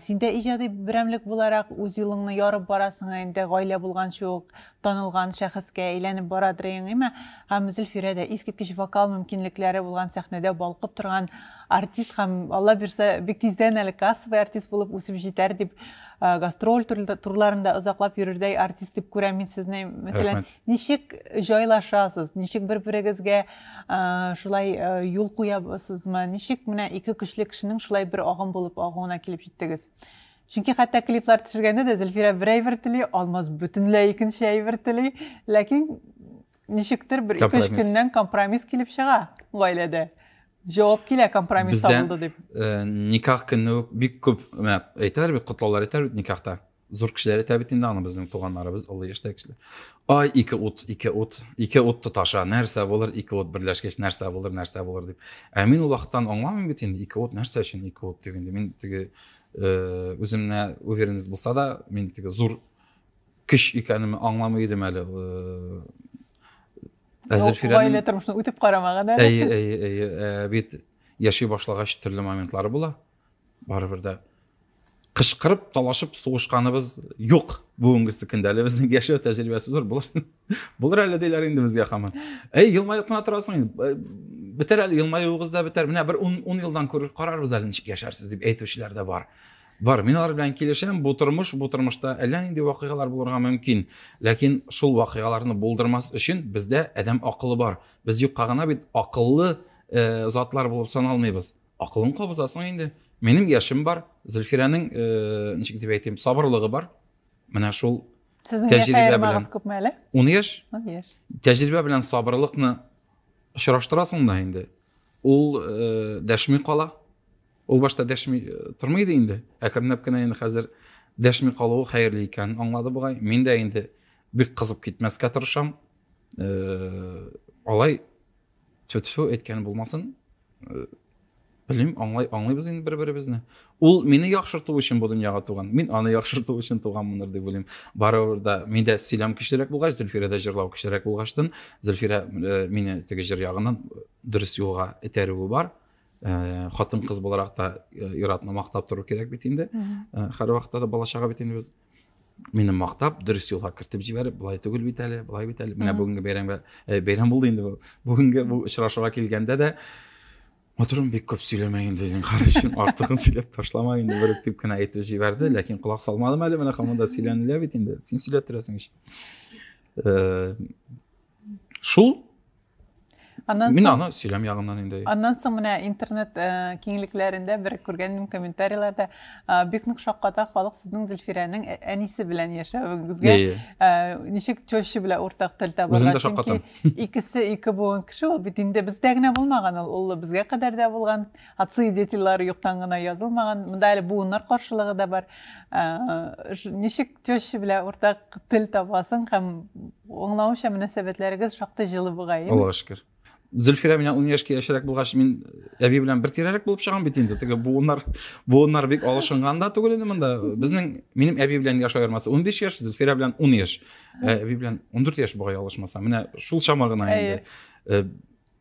Син дә иҗади берәмлек буларак үз юлыңны ярып барасың инде, гаилә булганчы ук. Танылган шәхескә әйләнеп бара Дреингима һәм Зөлфирә дә искиткеч вокал мөмкинлекләре булган сәхнәдә балкып торган артист һәм, Алла бирсә, бик тиздән әле кассовый артист булып үсеп җитәр дип, гастроль турларында озаклап йөрердәй артист дип күрәм мин сезне. Мәсәлән, ничек җайлашасыз, ничек бер-берегезгә шулай юл куябызмы, ничек менә ике көчле кешенең шулай бер агым булып агуына килеп җиттегез? Чөнки хәтта клиплар төшергәндә дә Зөлфирә бер әйбер тели, Алмаз бөтенләй икенче әйбер тели. Ләкин ничектер бер ике-өч көннән компромисс килеп чыга гаиләдә. Җавап килә компромисс табылды дип. Э, никах көне үк бик күп әйтәләр бит, котлаулар әйтәләр бит никахта. Зур кешеләр әйтә бит инде аны безнең туганнарыбыз, олы яшьтәге кешеләр. Ай, ике ут, ике ут, ике ут тоташа, нәрсә булыр, ике ут берләшкәч, нәрсә булыр, нәрсә булыр дип. Ә мин ул вакыттан аңламыйм бит инде, ике ут нәрсә өчен ике ут дип инде. Мин теге Э, үземне уверенность булса да мин теге зур көч икәнемне аңламый идем әле э, ә зөлфирәнең гаилә тормышын үтеп карамаган ә әйе әйе әйе ә, бит яши башлагач төрле моментлары була барыбер дә кычкырып талашып сугышканыбыз юк бүгенгесе көндә әле безнең яшәү тәҗрибәсе зур булыр Булыр әле диләр инде безгә хаман. Әй, елмаеп кына торасың. Э, бетәр әле елмаюыгыз да бетәр. Менә бер 10 ун елдан күрер карарбыз әле ничек яшәрсез дип әйтүчеләр дә бар. Бар, мин алар белән килешәм. Бу тормыш, бу тормышта әллә нинди вакыйгалар булырга мөмкин. Ләкин шул вакыйгаларны булдырмас өчен бездә адәм акылы бар. Без юкка гына бит акыллы э, затлар булып саналмыйбыз. Акылын кабызасың инде. Минем яшем бар, Зөлфирәнең, э, ничек дип әйтим, сабырлыгы бар. Менә шул Сезнең яшь аермагыз күпме әле? Ун яшь. Ун яшь. Тәҗрибә белән сабырлыкны очраштырасың да инде. Ул э, дәшми кала. Ул башта дәшми э, тормый иде инде. Әкренләп кенә инде хәзер дәшми калуы хәерле икәнен аңлады бугай. Мин дә инде бик кызып китмәскә тырышам. Э, алай тьфу тьфу әйткәнем булмасын э, белмим аңлай аңлыйбыз инде бер беребезне ул мине яхшырту өчен бу дөньяга туган мин аны яхшырту өчен туганмындыр дип уйлыйм барыбер да миндә сөйләм көчлерәк булгач зөлфирәдә җырлау көчлерәк булгачтын зөлфирә э, мине теге җыр ягыннан э, дөрес юлга этәрүе бар э, хатын кыз буларак та э, ир-атны мактап тору кирәк бит инде Мгм. Э, һәрвакытта да бала чага бит инде без мине мактап дөрес юлга кертеп җибәреп болай түгел бит әле болай бит әле менә бүгенге бәйрәмгә ә, бәйрәм булды инде бу бүгенге бу очрашуга килгәндә дә матурым бик күп сөйләмә инде зинхар өчен артыгын сөйләп ташлама инде бер дип кенә әйтеп җибәрде ләкин колак салмадым әле менә һаман да сөйләнелә бит инде син сөйләп торасың ич шул Аннан Мин соң, аны сөйләм ягыннан инде. Аннан соң менә интернет э, киңлекләрендә бер күргәнем комментарийларда э, бик нык шакката халык сезнең Зөлфирәнең ә- әнисе белән яшәвегезгә. Иә, иә. Э, ничек теща белән уртак тел табарга? Үзем дә шаккатам. Чөнки икесе ике буын кеше ул бит инде бездә генә булмаган ул, ул безгә кадәр дә булган. Отцы и дети лары юктан гына язылмаган. Монда әле буыннар каршылыгы да бар. Ничек теща белән уртак тел табасың һәм аңлавымча мөнәсәбәтләрегез шактый җылы бугай. Аллага шөкер. Зөлфирә белән 10 яшькә яшьрәк булгач, мин әби белән бер тирәлек булып чыгам бит инде. Теге буыннар, буыннар бик алышынган да түгел инде монда. Безнең минем әби белән яшь аермасы 15 яшь, Зөлфирә белән 10 яшь. Әби белән 14 яшь бугай алышмаса. Менә шул чама гына инде.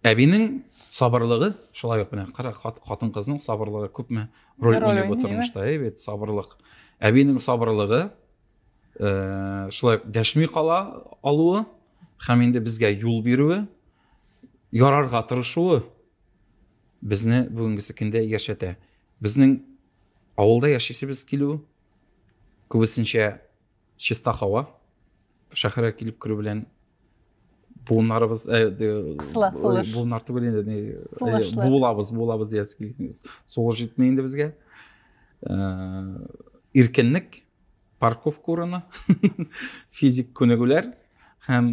Әбинең сабырлыгы шулай ук менә кара хатын кызның сабырлыгы күпме роль уйный бу тормышта әй бит сабырлык әбинең сабырлыгы э, шулай ук дәшми кала алуы һәм инде безгә юл бирүе ярарга тырышуы безне бүгенгесе көндә яшәтә безнең авылда яшисебез килү күбесенчә чиста һава шәһәргә килеп керү белән буыннарыбыз э, кысыла сулыш буыннар түгел инде не буылабыз буылабыз диясе килгән сулыш җитми инде безгә иркенлек парковка урыны физик күнегүләр һәм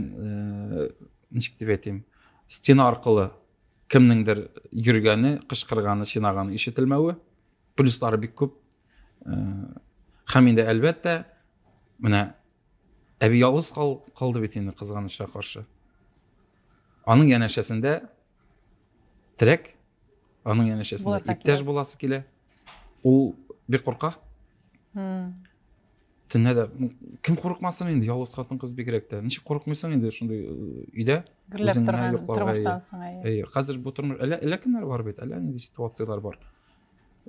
ничек дип әйтим стена аркылы кемнеңдер йөргәне кычкырганы чинаганы ишетелмәве плюслары бик күп һәм инде әлбәттә менә әби ялгыз кал, калды бит инде кызганычка каршы аның янәшәсендә терәк аның янәшәсендә иптәш буласы килә ул бик курка төнлә дә кем курыкмасын инде ялгыз хатын кыз бигрәк тә ничек курыкмыйсың инде шундый өйдә гөрләп торган тормыштан соң әйе хәзер бу тормыш әллә әллә кемнәр бар бит әллә нинди ситуацияләр бар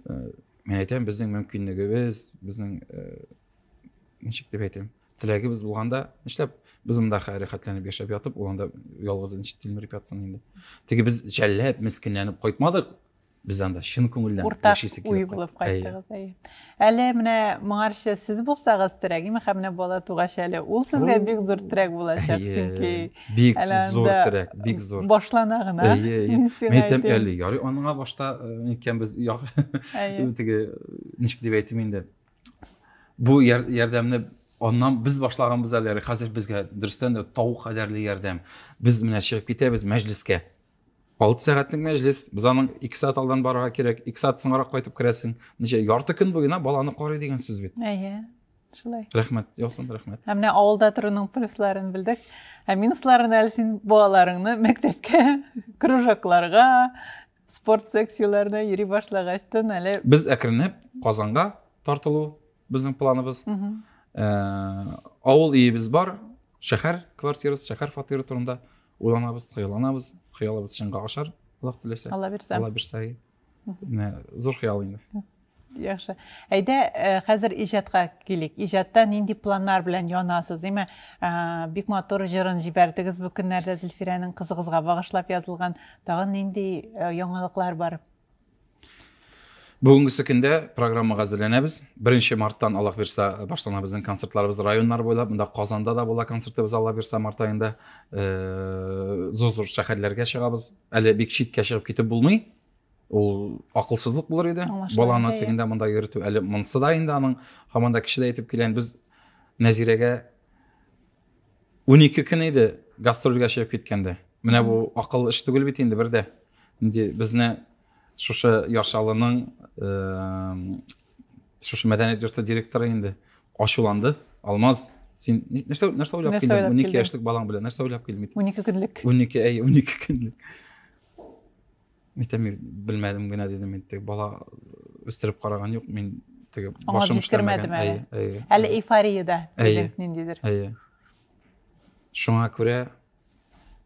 мен әйтәм безнең мөмкинлегебез безнең ничек дип әйтәм теләгебез булганда нишләп без монда рәхәтләнеп яшәп ятып ул анда ялгыз ничек тилмереп ятсын инде теге без жәлләп мескенләнеп кайтмадык без анда чын күңелдән уртак уй булып кайттыгыз әйе Әле менә моңарчы сез булсагыз терәгим һәм менә бала тугач әле ул сезгә бик зур терәк булачак чөнки бик зур терәк бик зур башлана гына әйтәм әле ярый аныңа башта икәнбез теге ничек дип әйтим инде бу ярдәмне аннан без башлаганбыз әле хәзер безгә дөрестән дә тау кадәрле ярдәм без менә чыгып китәбез мәҗлескә алты сәгатьлек мәҗлес без аның ике сәгать алдан барырга кирәк ике сәгать соңрак кайтып керәсең ничә ярты көн буена баланы карый дигән сүз бит әйе шулай рәхмәт яусын рәхмәт ә менә авылда торуның плюсларын белдек ә минусларын әле син балаларыңны мәктәпкә кружокларга спорт секцияләренә йөри башлагачтын әле без әкренләп казанга тартылу безнең планыбыз ә, авыл өебез бар шәһәр квартирасы шәһәр фатиры турында уйланабыз хыялланабыз хыялыбыз чынга ашар аллаһ теләсә алла бирсә алла бирсә менә зур хыял инде яхшы әйдә э, хәзер иҗатка килик иҗатта нинди планнар белән янасыз димә э, бик матур җырын җибәрдегез бу көннәрдә зөлфирәнең кызыгызга багышлап язылган тагын нинди э, яңалыклар бар Бүгенгесе көндә программага әзерләнәбез. Беренче марттан Аллаһ бирсә башлана безнең концертларыбыз районнар буйлап, монда Казанда да була концертыбыз Аллаһ бирсә март аенда. Э, зур-зур шәһәрләргә чыгабыз. Әле бик читкә чыгып китеп булмый. Ул акылсызлык булыр иде. Баланы тегендә монда йөртү әле монсы да инде аның һаман да кеше дә әйтеп килгән. Без Нәзирәгә унике көн иде гастрольгә чыгып киткәндә менә бу акыл эш түгел бит инде бер дә инде безне шушы яршалының шушы мәдәният йорты директоры инде ачуланды алмаз син нәрсә нәрсә уйлап килдең унике яшьлек балаң белән нәрсә уйлап килдең унике көнлек унике әй унике көнлек Мәктәп мин белмәдем генә дидем мин теге бала үстереп караган юк мин теге башым эшләмәгән әйе әйе әле эйфорияда әйе ниндидер әйе шуңа күрә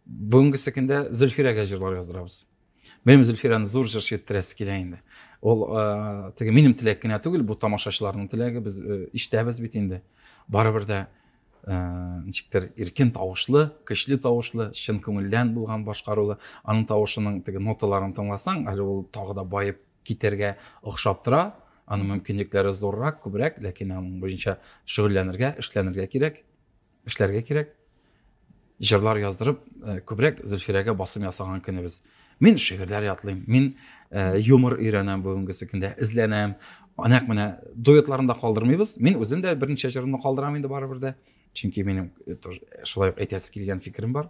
бүгенгесе көндә зөлфирәгә җырлар яздырабыз белмим зөлфирәне зур җырчы иттерәсе килә инде ол ә, теге минем теләк кенә түгел бу тамашачыларның теләге без ә, ишетәбез бит инде барыбер дә ничектер иркен тавышлы көчле тавышлы чын күңелдән булган башкарулы аның тавышының теге ноталарын тыңласаң әле ул тагы да баеп китәргә охшап тора аның мөмкинлекләре зуррак күбрәк ләкин аның буенча шөгыльләнергә эшләнергә кирәк эшләргә кирәк җырлар яздырып э, күбрәк зөлфирәгә басым ясаган көнебез мин шигырьләр ятлыйм мин э, юмор өйрәнәм бүгенгесе көндә эзләнәм нәкъ менә дуэтларын да калдырмыйбыз мин үзем дә берничә җырымны калдырам инде барыбер дә чөнки минем э, шулай ук әйтәсе килгән фикерем бар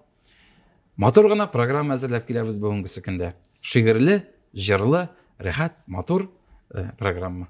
матур гына программа әзерләп киләбез бүгенгесе көндә шигырьле җырлы рәхәт матур э, программа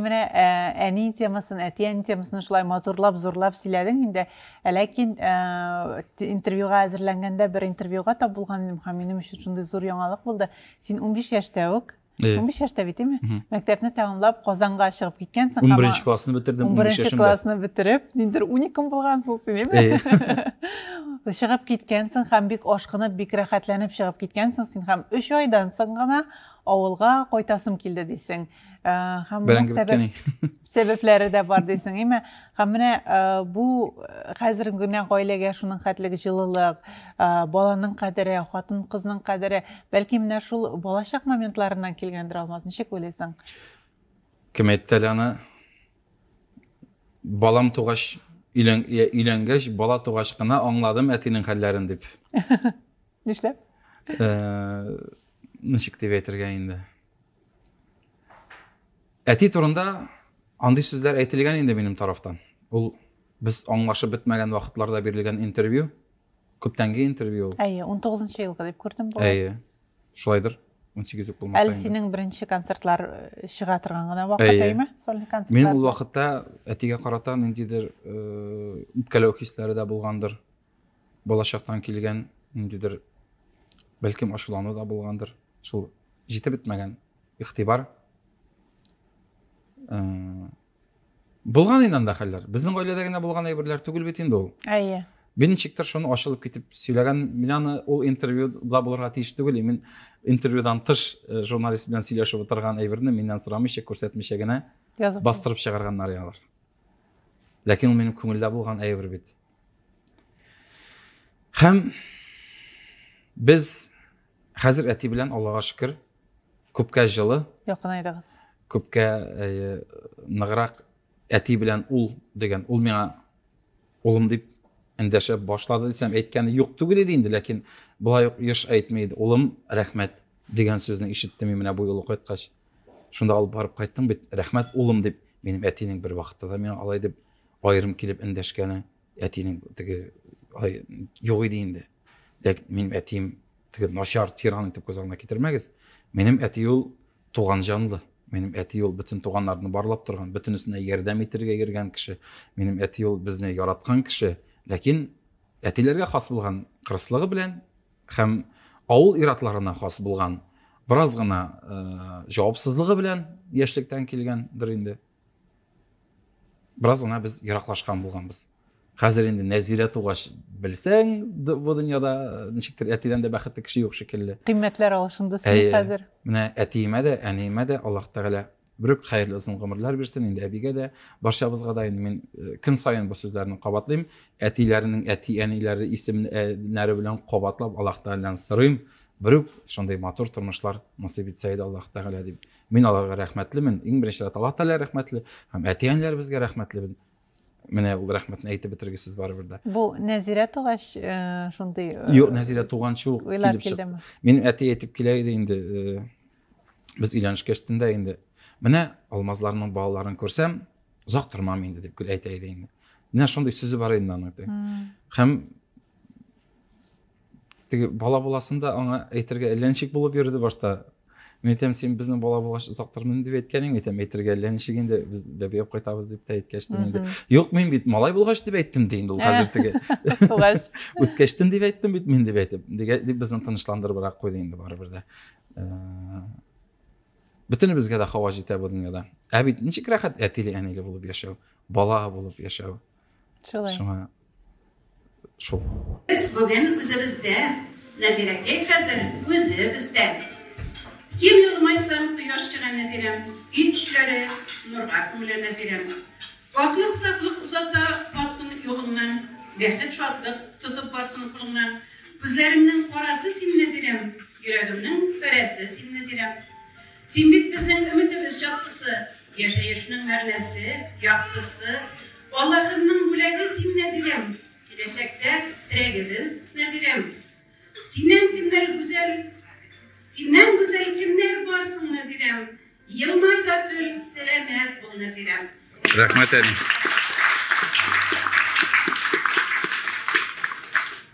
менә ә, әни темасын, әтиәни темасын шулай матурлап, зурлап сөйләдең инде. Ә ләкин ә, интервьюга әзерләнгәндә бер интервьюга тап булган идем һәм минем өчен шундый зур яңалык булды. Син 15 яшьтә үк Э. Унбиш яшьтә бит, әйме? Мәктәпне тәмамлап, Казанга чыгып киткән соң. Унберенче классны бетердем, унбиш яшемдә. Унберенче классны бетереп, ниндер уникум булган соң син, әйме? Э. Чыгып киткән соң һәм бик ашкынып, бик рәхәтләнеп чыгып киткән соң син һәм өч айдан соң гына авылга кайтасым килде дисең. Э, һәм Бәрәңге беткәни. сәбәпләре дә бар дисең име һәм менә э, бу э, хәзерге генә гаиләгә шуның хәтлек җылылык э, баланың кадере хатын кызның кадере бәлки менә шул балачак моментларыннан килгәндер алмаз ничек уйлыйсың кем әйтте әле аны балам тугач өйләнгәч бала тугач кына аңладым әтинең хәлләрен дип нишләп ничек дип әйтергә инде Әти турында андый сүзләр әйтелгән инде минем тарафтан. Ул без аңлашып бетмәгән вакытларда бирелгән интервью, күптәнге интервью ул. Әйе, 19 елгы дип күрдем бу. Әйе. Шулайдыр. 18 булмаса инде. Әле синең беренче концертлар э, чыга торган гына вакыт әйме? Сольный концерт. Мин ул вакытта әтигә карата ниндидер э, үпкәләү хисләре дә булгандыр. балачактан килгән ниндидер бәлкем ачулану да булгандыр шул җитеп бетмәгән игътибар ә, булган инде анда хәлләр безнең гаиләдә генә булган әйберләр түгел бит инде ул әйе Мин ничектер шуны ачылып китеп сөйләгән. Мин аны ул интервьюда булырга тиеш түгел. Мин интервьюдан тыш э, журналист белән сөйләшеп утырган әйберне миннән сорамыйча, күрсәтмичә генә бастырып чыгарганнар алар. Ләкин ул минем күңелдә булган әйбер бит. Һәм без хәзер әти белән Аллага шөкер, күпкә җылы. Якынайдыгыз. Күпкә ныграк әти белән ул дигән, ул миңа Улым, дип эндәшә башлады дисәм, әйткәне юк түгел иде инде, ләкин болай ук еш әйтми иде. Улым, рәхмәт, дигән сүзне ишеттем мин менә бу юлы кайткач. Шунда алып барып кайттың бит, рәхмәт, улым, дип, минем әтинең бер вакытта да миңа алай дип аерым килеп эндәшкәне, әтинең теге алай юк иде инде. Ләкин минем әтием теге начар тиран итеп күз алдына китермәгез. Минем әти ул Туган җанлы. Минем әти ул бөтен туганнарны барлап торган, бөтенесенә ярдәм итергә йөргән кеше. Минем әти ул безне яраткан кеше. Ләкин әтиләргә хас булган кырыслыгы белән һәм авыл иратларына хас булган бераз гына э, җавапсызлыгы белән яшьлектән килгәндер инде. Бераз гына без ераклашкан булганбыз. Хәзер инде Нәзирә тугач белсәң, бу дөньяда э, ничектер әтидән дә бәхетле кеше юк шикелле. Кыйммәтләр алышынды син хәзер. Менә әтиемә дә, әниемә дә Аллаһ Тәгалә бөрек хәерле озын гомерләр бирсен инде әбигә дә барчабызга да инде мин э, көн саен бу сүзләрне кабатлыйм әтиләренең әти әниләре исемнәре белән кабатлап аллаһ тәгаләдән сорыйм бөрек шундый матур тормышлар насыйп итсә иде аллаһ тәгалә дип Мин аларга рәхмәтлемен. Иң беренче рәт Аллаһ Тәгалә рәхмәтле һәм әти-әниләребезгә рәхмәтлебез. Менә ул рәхмәтне әйтеп бетергесез барыбер дә. Бу Нәзирә тугач э, шундый э, Юк, Нәзирә туганчы ук уйлар килеп чыкты. килдеме? Минем әти әйтеп килә иде инде, э, без өйләнешкәч тендә инде. Менә Алмазларның балаларын күрсәм, озак тормам инде дип әйтә иде инде. Менә шундый сүзе бар иде аның. Һәм теге бала буласын да аңа әйтергә әллә ничек булып йөрде башта мин әйтәм син безнең бала булгач озак тормыйм дип әйткән идең әйтәм әйтергә әллә ничек инде без бәби алып кайтабыз дип тә әйткәч тә инде юк мин бит малай булгач дип әйттем ди инде ул хәзер теге үскәчтен дип әйттем бит мин дип әйтеп дип безне тынычландырыбрак куйды инде барыбер дә бөтенебезгә дә һава җитә бу дөньяда ә бит ничек рәхәт әтиле әниле булып яшәү бала булып яшәү Шулай. Шуңа шул. Бүген үзебездә Нәзирәгә хәзер үзе бездә. Син елмайсаң, кояш чыга Нәзирәм, өй эшләре нурга күмелә Нәзирәм. Аклык, саклык озата барсын юлыңнан, бәхет, шатлык тотып барсын кулыңнан. Күзләремнең карасы син Нәзирәм, йөрәгемнең фәрәсе син Нәзирәм. Син бит безнең өметебез чаткысы, Яшәешнең мәгънәсе, яктысы. Аллаһымның бүләге син, Нәзигәм, Киләчәктә терәгебез, Нәзигәм. Синнән кемнәр гүзәл, Синнән гүзәл кемнәр бар соң, Нәзирәм? Елмай да көл, сәламәт бул, Нәзирәм. Рәхмәт, әни.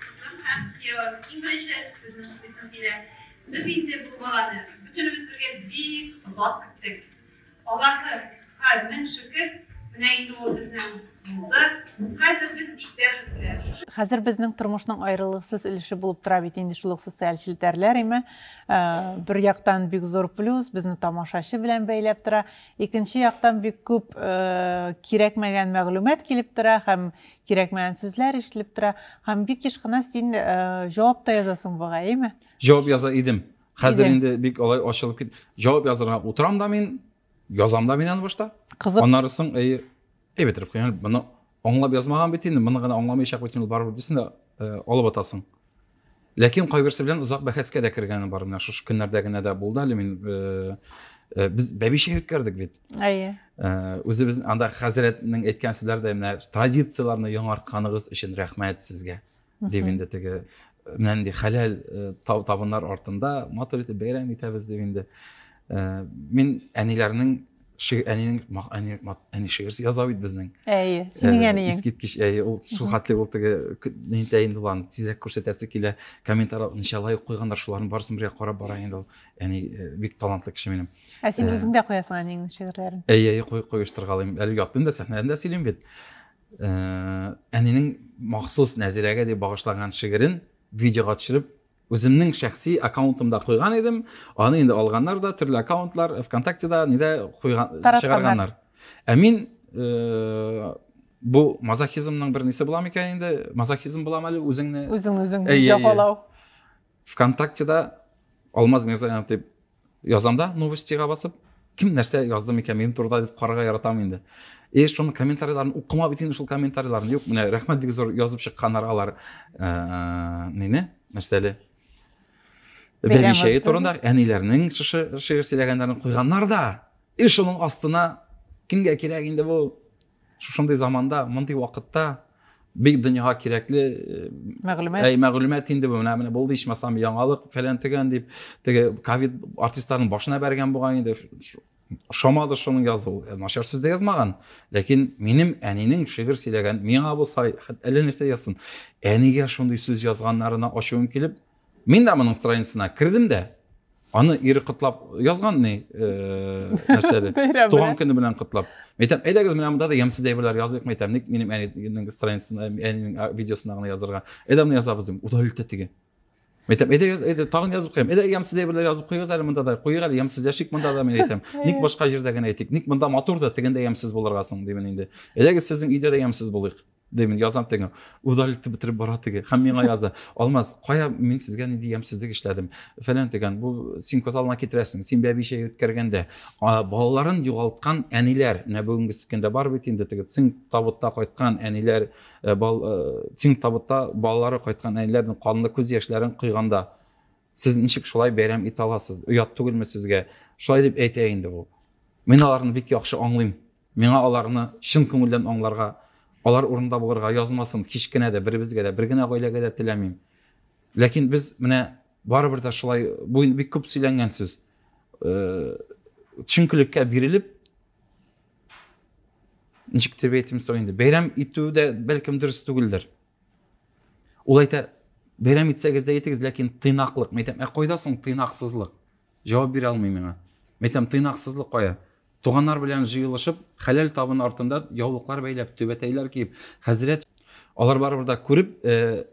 Кызым һәм киявем, иң беренче сезнең укыйсым килә. Без инде бу баланы бөтенебез бергә бик озак көттек. Аллаһы һа мең шөкер, менә инде ул безнең булды. Хәзер без бик бәхетле. Хәзер безнең тормышның аерылгысыз өлеше булып тора бит инде шул ук социаль челтәрләр име. Ә, бер яктан бик зур плюс, безне тамашачы белән бәйләп тора. Икенче яктан бик күп ә, кирәкмәгән мәгълүмат килеп тора һәм кирәкмәгән сүзләр ишетелеп тора. Һәм бик еш кына син ә, җавап та язасың бугай, име? жауап яза идем хәзер инде бик алай ачылып кит жауап язырга утырам да мин язам да мин аны башта кызык аннары соң әйе әй бетереп куям моны аңлап язмаган бит инде моны гына аңламыйчак бит инде барыбер дисең да э, алып атасың ләкин кайберсе белән озак бәхәскә дә кергәне бар менә шушы көннәрдә генә дә булды әле мин э, Э, без бәбишә үткәрдек бит әйе э, үзебез анда хәзрәтнең әйткән сүзләре дә менә традицияләрне яңартканыгыз өчен рәхмәт сезгә дип инде теге менә нинди хәләл табыннар артында матур итеп бәйрәм итәбез дип инде мин әниләрнең әнинең әни әни шигырь яза бит безнең әйе синең әниең искиткеч әйе ул шул хәтле ул теге нитә инде ул аны тизрәк күрсәтәсе килә комментарий ничә лайк куйганнар шуларның барысын бергә карап бара инде ул әни бик талантлы кеше минем ә син үзең дә куясың әниеңнең шигырьләрен әйе әйе куештыргалыйм әле ятмыйм да сәхнәдән дә сөйлим бит Ә, әнинең махсус Нәзирәгә дип багышлаган шигырен видеога төшереп, үземнең шәхси аккаунтымда куйган идем. Аны инде алганнар да, төрле аккаунтлар, ВКонтактеда, нидә куйган, чыгарганнар. Ә мин э, бу мазохизмның бер нисе буламы икән инде? Мазохизм буламы әле үзеңне? Үзең үзең җафалау. ВКонтактеда Алмаз Мирзаянов дип язам да новостига басып кем нәрсә язды микән минем турыда дип карарга яратам инде и шуның комментарийларын укымап итин шул комментарийларын юк менә рәхмәт бик зур язып чыкканнар алар ә, нене нәрсәле бәбишәе турында әниләрнең шушы шигырь сөйләгәннәрен куйганнар да и шуның астына кемгә кирәк инде бу Шушындый заманда, мондый вакытта бик дөньяга кирәкле э, мәгълүмат әй мәгълүмат инде бу менә менә булды ичмасам яңалык фәлән төгән дип теге ковид артистларның башына бәргән булган инде ошамады шуның язуы э, начар сүз дә язмаган ләкин минем әнинең шигырь сөйләгән миңа булса әллә нәрсә язсын әнигә шундый сүз язганнарына ачуым килеп Мин дә моның страницасына кердем дә, аны ире котлап язган ни э, нәрсәле туган көне белән котлап мен әйтәм әйдәгез менә монда да ямьсез әйберләр языйк мен әйтәм ник минем әнинең страницасына әнинең видеосына гына язырга әйдә моны язабыз дим удалить итә теге мен әйтәм әйдә яз әйдә тагын язып куям әйдә ямьсез әйберләр язып куегыз әле монда да куйыйк әле ямьсез яшик монда да мен әйтәм ник башка җирдә генә әйтик ник монда матур да тегендә ямьсез булырга соң димен инде әйдәгез сезнең өйдә дә ямьсез булыйк Димин, язам тегә. Удар итеп бетереп бара теге. Хәм миңа яза. Алмаз, кая мин сезгә ни дигән сездик эшләдем. Фәлән дигән, бу син козалына китерәсең. Син бәби чәй үткәргәндә, балаларын югалткан әниләр, менә бүгенге сикендә бар бит инде теге син табутта кайткан әниләр, э, бал син э, табутта балалары кайткан әниләрнең канлы күз яшьләрен куйганда сез ничек шулай бәйрәм итә аласыз? Оят түгелме сезгә? Шулай дип әйтә инде бу. Мин аларны бик яхшы аңлыйм. Миңа аларны чын күңелдән аңларга, алар урынында булырга язмасын һич кенә дә беребезгә дә, бер генә гаиләгә дә теләмим. Ләкин без менә барыбер дә шулай, бу инде бик күп сөйләнгән сүз, чөнкелеккә бирелеп, ничек дип әйтим соң инде, бәйрәм итү дә бәлкем дөрес түгелдер. Ул әйтә, бәйрәм итсәгез дә итегез, ләкин тыйнаклык. Мәйтәм, ә кайда соң тыйнаксызлык? Җавап бирә алмый миңа. Мәйтәм, тыйнаксызлык кая? Туганнар белән җыелышып, хәләл табын артында яулыклар бәйләп, түбәтәйләр киеп, хәзрәт алар барыбер да күреп, э,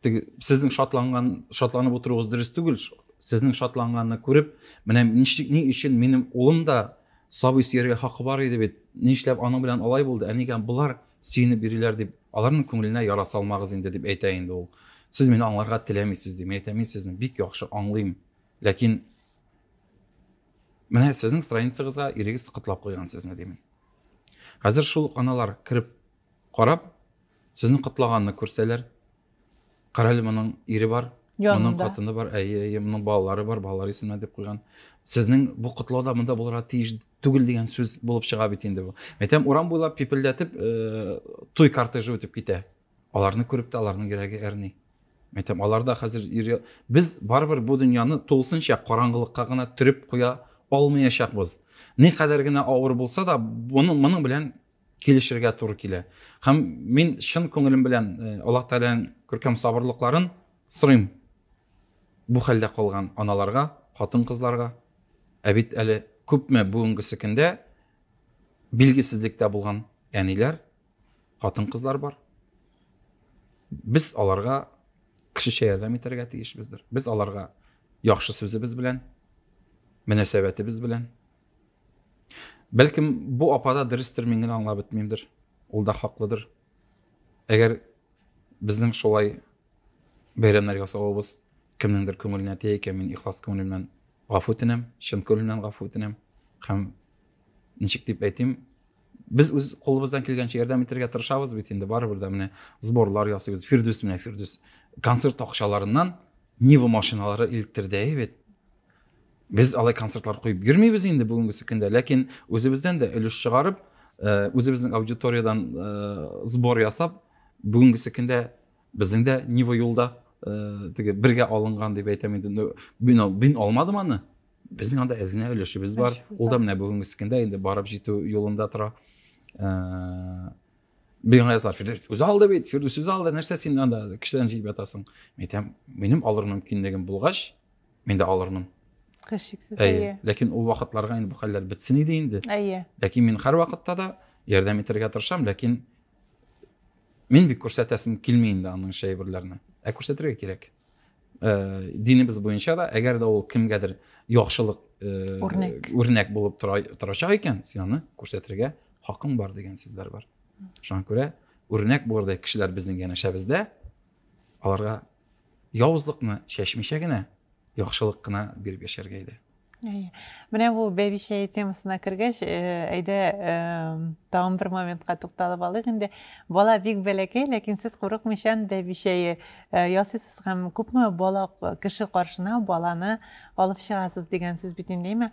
теге сезнең шатланган, шатланып утыруыгыз дөрес түгел, сезнең шатланганны күреп, менә ничек ни өчен минем улым да сабый сөяргә хакы бар иде бит, нишләп аның белән алай булды, ә нигә болар сөенеп йөриләр дип, аларның күңеленә яра салмагыз инде дип әйтә инде ул. Сез мине аңларга теләмисез дип әйтә, мин сезне бик яхшы аңлыйм, ләкин Менә сезнең страницагызга ирегез котлап куйган сезне димен. Хәзер шул аналар кереп карап, сезнең котлаганны күрсәләр, карале моның ире бар, моның хатыны бар, әйе, әйе, моның балалары бар, балалар исеменә дип куйган. Сезнең бу котлауда монда булырга тиеш түгел дигән сүз булып чыга бит инде бу. Әйтәм, урам буйлап пипелдәтеп, э, туй кортежы үтеп китә. Аларны күреп тә аларның йөрәге әрни. Мен әйтәм, алар да хәзер йөри. Без барыбер бу дөньяны тулысынча караңгылыкка гына төреп куя алмаячакбыз. Никадәр генә авыр булса да, моның моның белән килешергә туры килә. Һәм мин чын күңелем белән э, Аллаһ Тәгаләнең күркәм сабырлыкларын сорыйм. Бу хәлдә калган аналарга, хатын-кызларга. Ә бит әле күпме бүгенгесе көндә билгесезлектә булган әниләр, хатын-кызлар бар. Без аларга кешечә ярдәм итәргә тиешбездер. Без аларга яхшы сүзебез белән, мөнәсәбәтебез белән. Бәлкем бу апада дөрестер, мин генә аңлап бетмимдер. Ул да хаклыдыр. Әгәр безнең шулай бәйрәмнәр ясавыбыз кемнеңдер күңеленә тия икән, мин ихлас күңел белән гафу үтенәм, чын күңел белән гафу үтенәм һәм ничек дип әйтим, Без үз кулыбыздан килгәнчә ярдәм итәргә тырышабыз бит инде, барыбер дә менә сборлар ясыйбыз. Фирдүс менә Фирдүс концерт акчаларыннан Нива машиналары илттерде бит. Без алай концертлар куеп йөрмибез инде бүгенгесе көндә, ләкин үзебездән дә өлеш чыгарып, э, үзебезнең аудиториядән э, сбор ясап, бүгенгесе көндә Безнең дә Нива юлда теге бергә алынган дип әйтәм инде. Мин мин алмадым аны. Безнең анда әзенә өлешебез бар. Ул да менә бүгенге сикендә инде барып җитү юлында тора. Бигенә язар, Фирдүс үзе алды бит, Фирдүс үзе алды, нәрсә син анда кешедән җыеп ятасың? Мин әйтәм, минем алыр мөмкинлегем булгач, мин дә алырмын. Хәшиксез. Әйе. Ләкин ул вакытларга инде бу хәлләр бетсен иде инде. Әйе. Ләкин мин һәр вакытта да ярдәм итәргә тырышам, ләкин Мин бик күрсәтәсем килми инде аның шәйберләрне. Ә күрсәтергә кирәк. Э, динебез буенча да, әгәр дә ул кемгәдер яхшылык э, үрнәк, үрнәк булып тора, торачак икән, син аны күрсәтергә хакың бар дигән сүзләр бар. Шуңа күрә үрнәк булырдай кешеләр безнең янәшәбездә, аларга Явызлыкны чәчмичә генә, яхшылык кына биреп яшәргә иде. Менә бу бәбичә темасына кергәч, э, әйдә э, тагын бер моментка тукталып алыйк инде. Бала бик бәләкәй, ләкин сез курыкмыйча бәбичәе э, ясыйсыз һәм күпме бала кеше каршына баланы алып чыгасыз дигән сүз бит инде, әйме?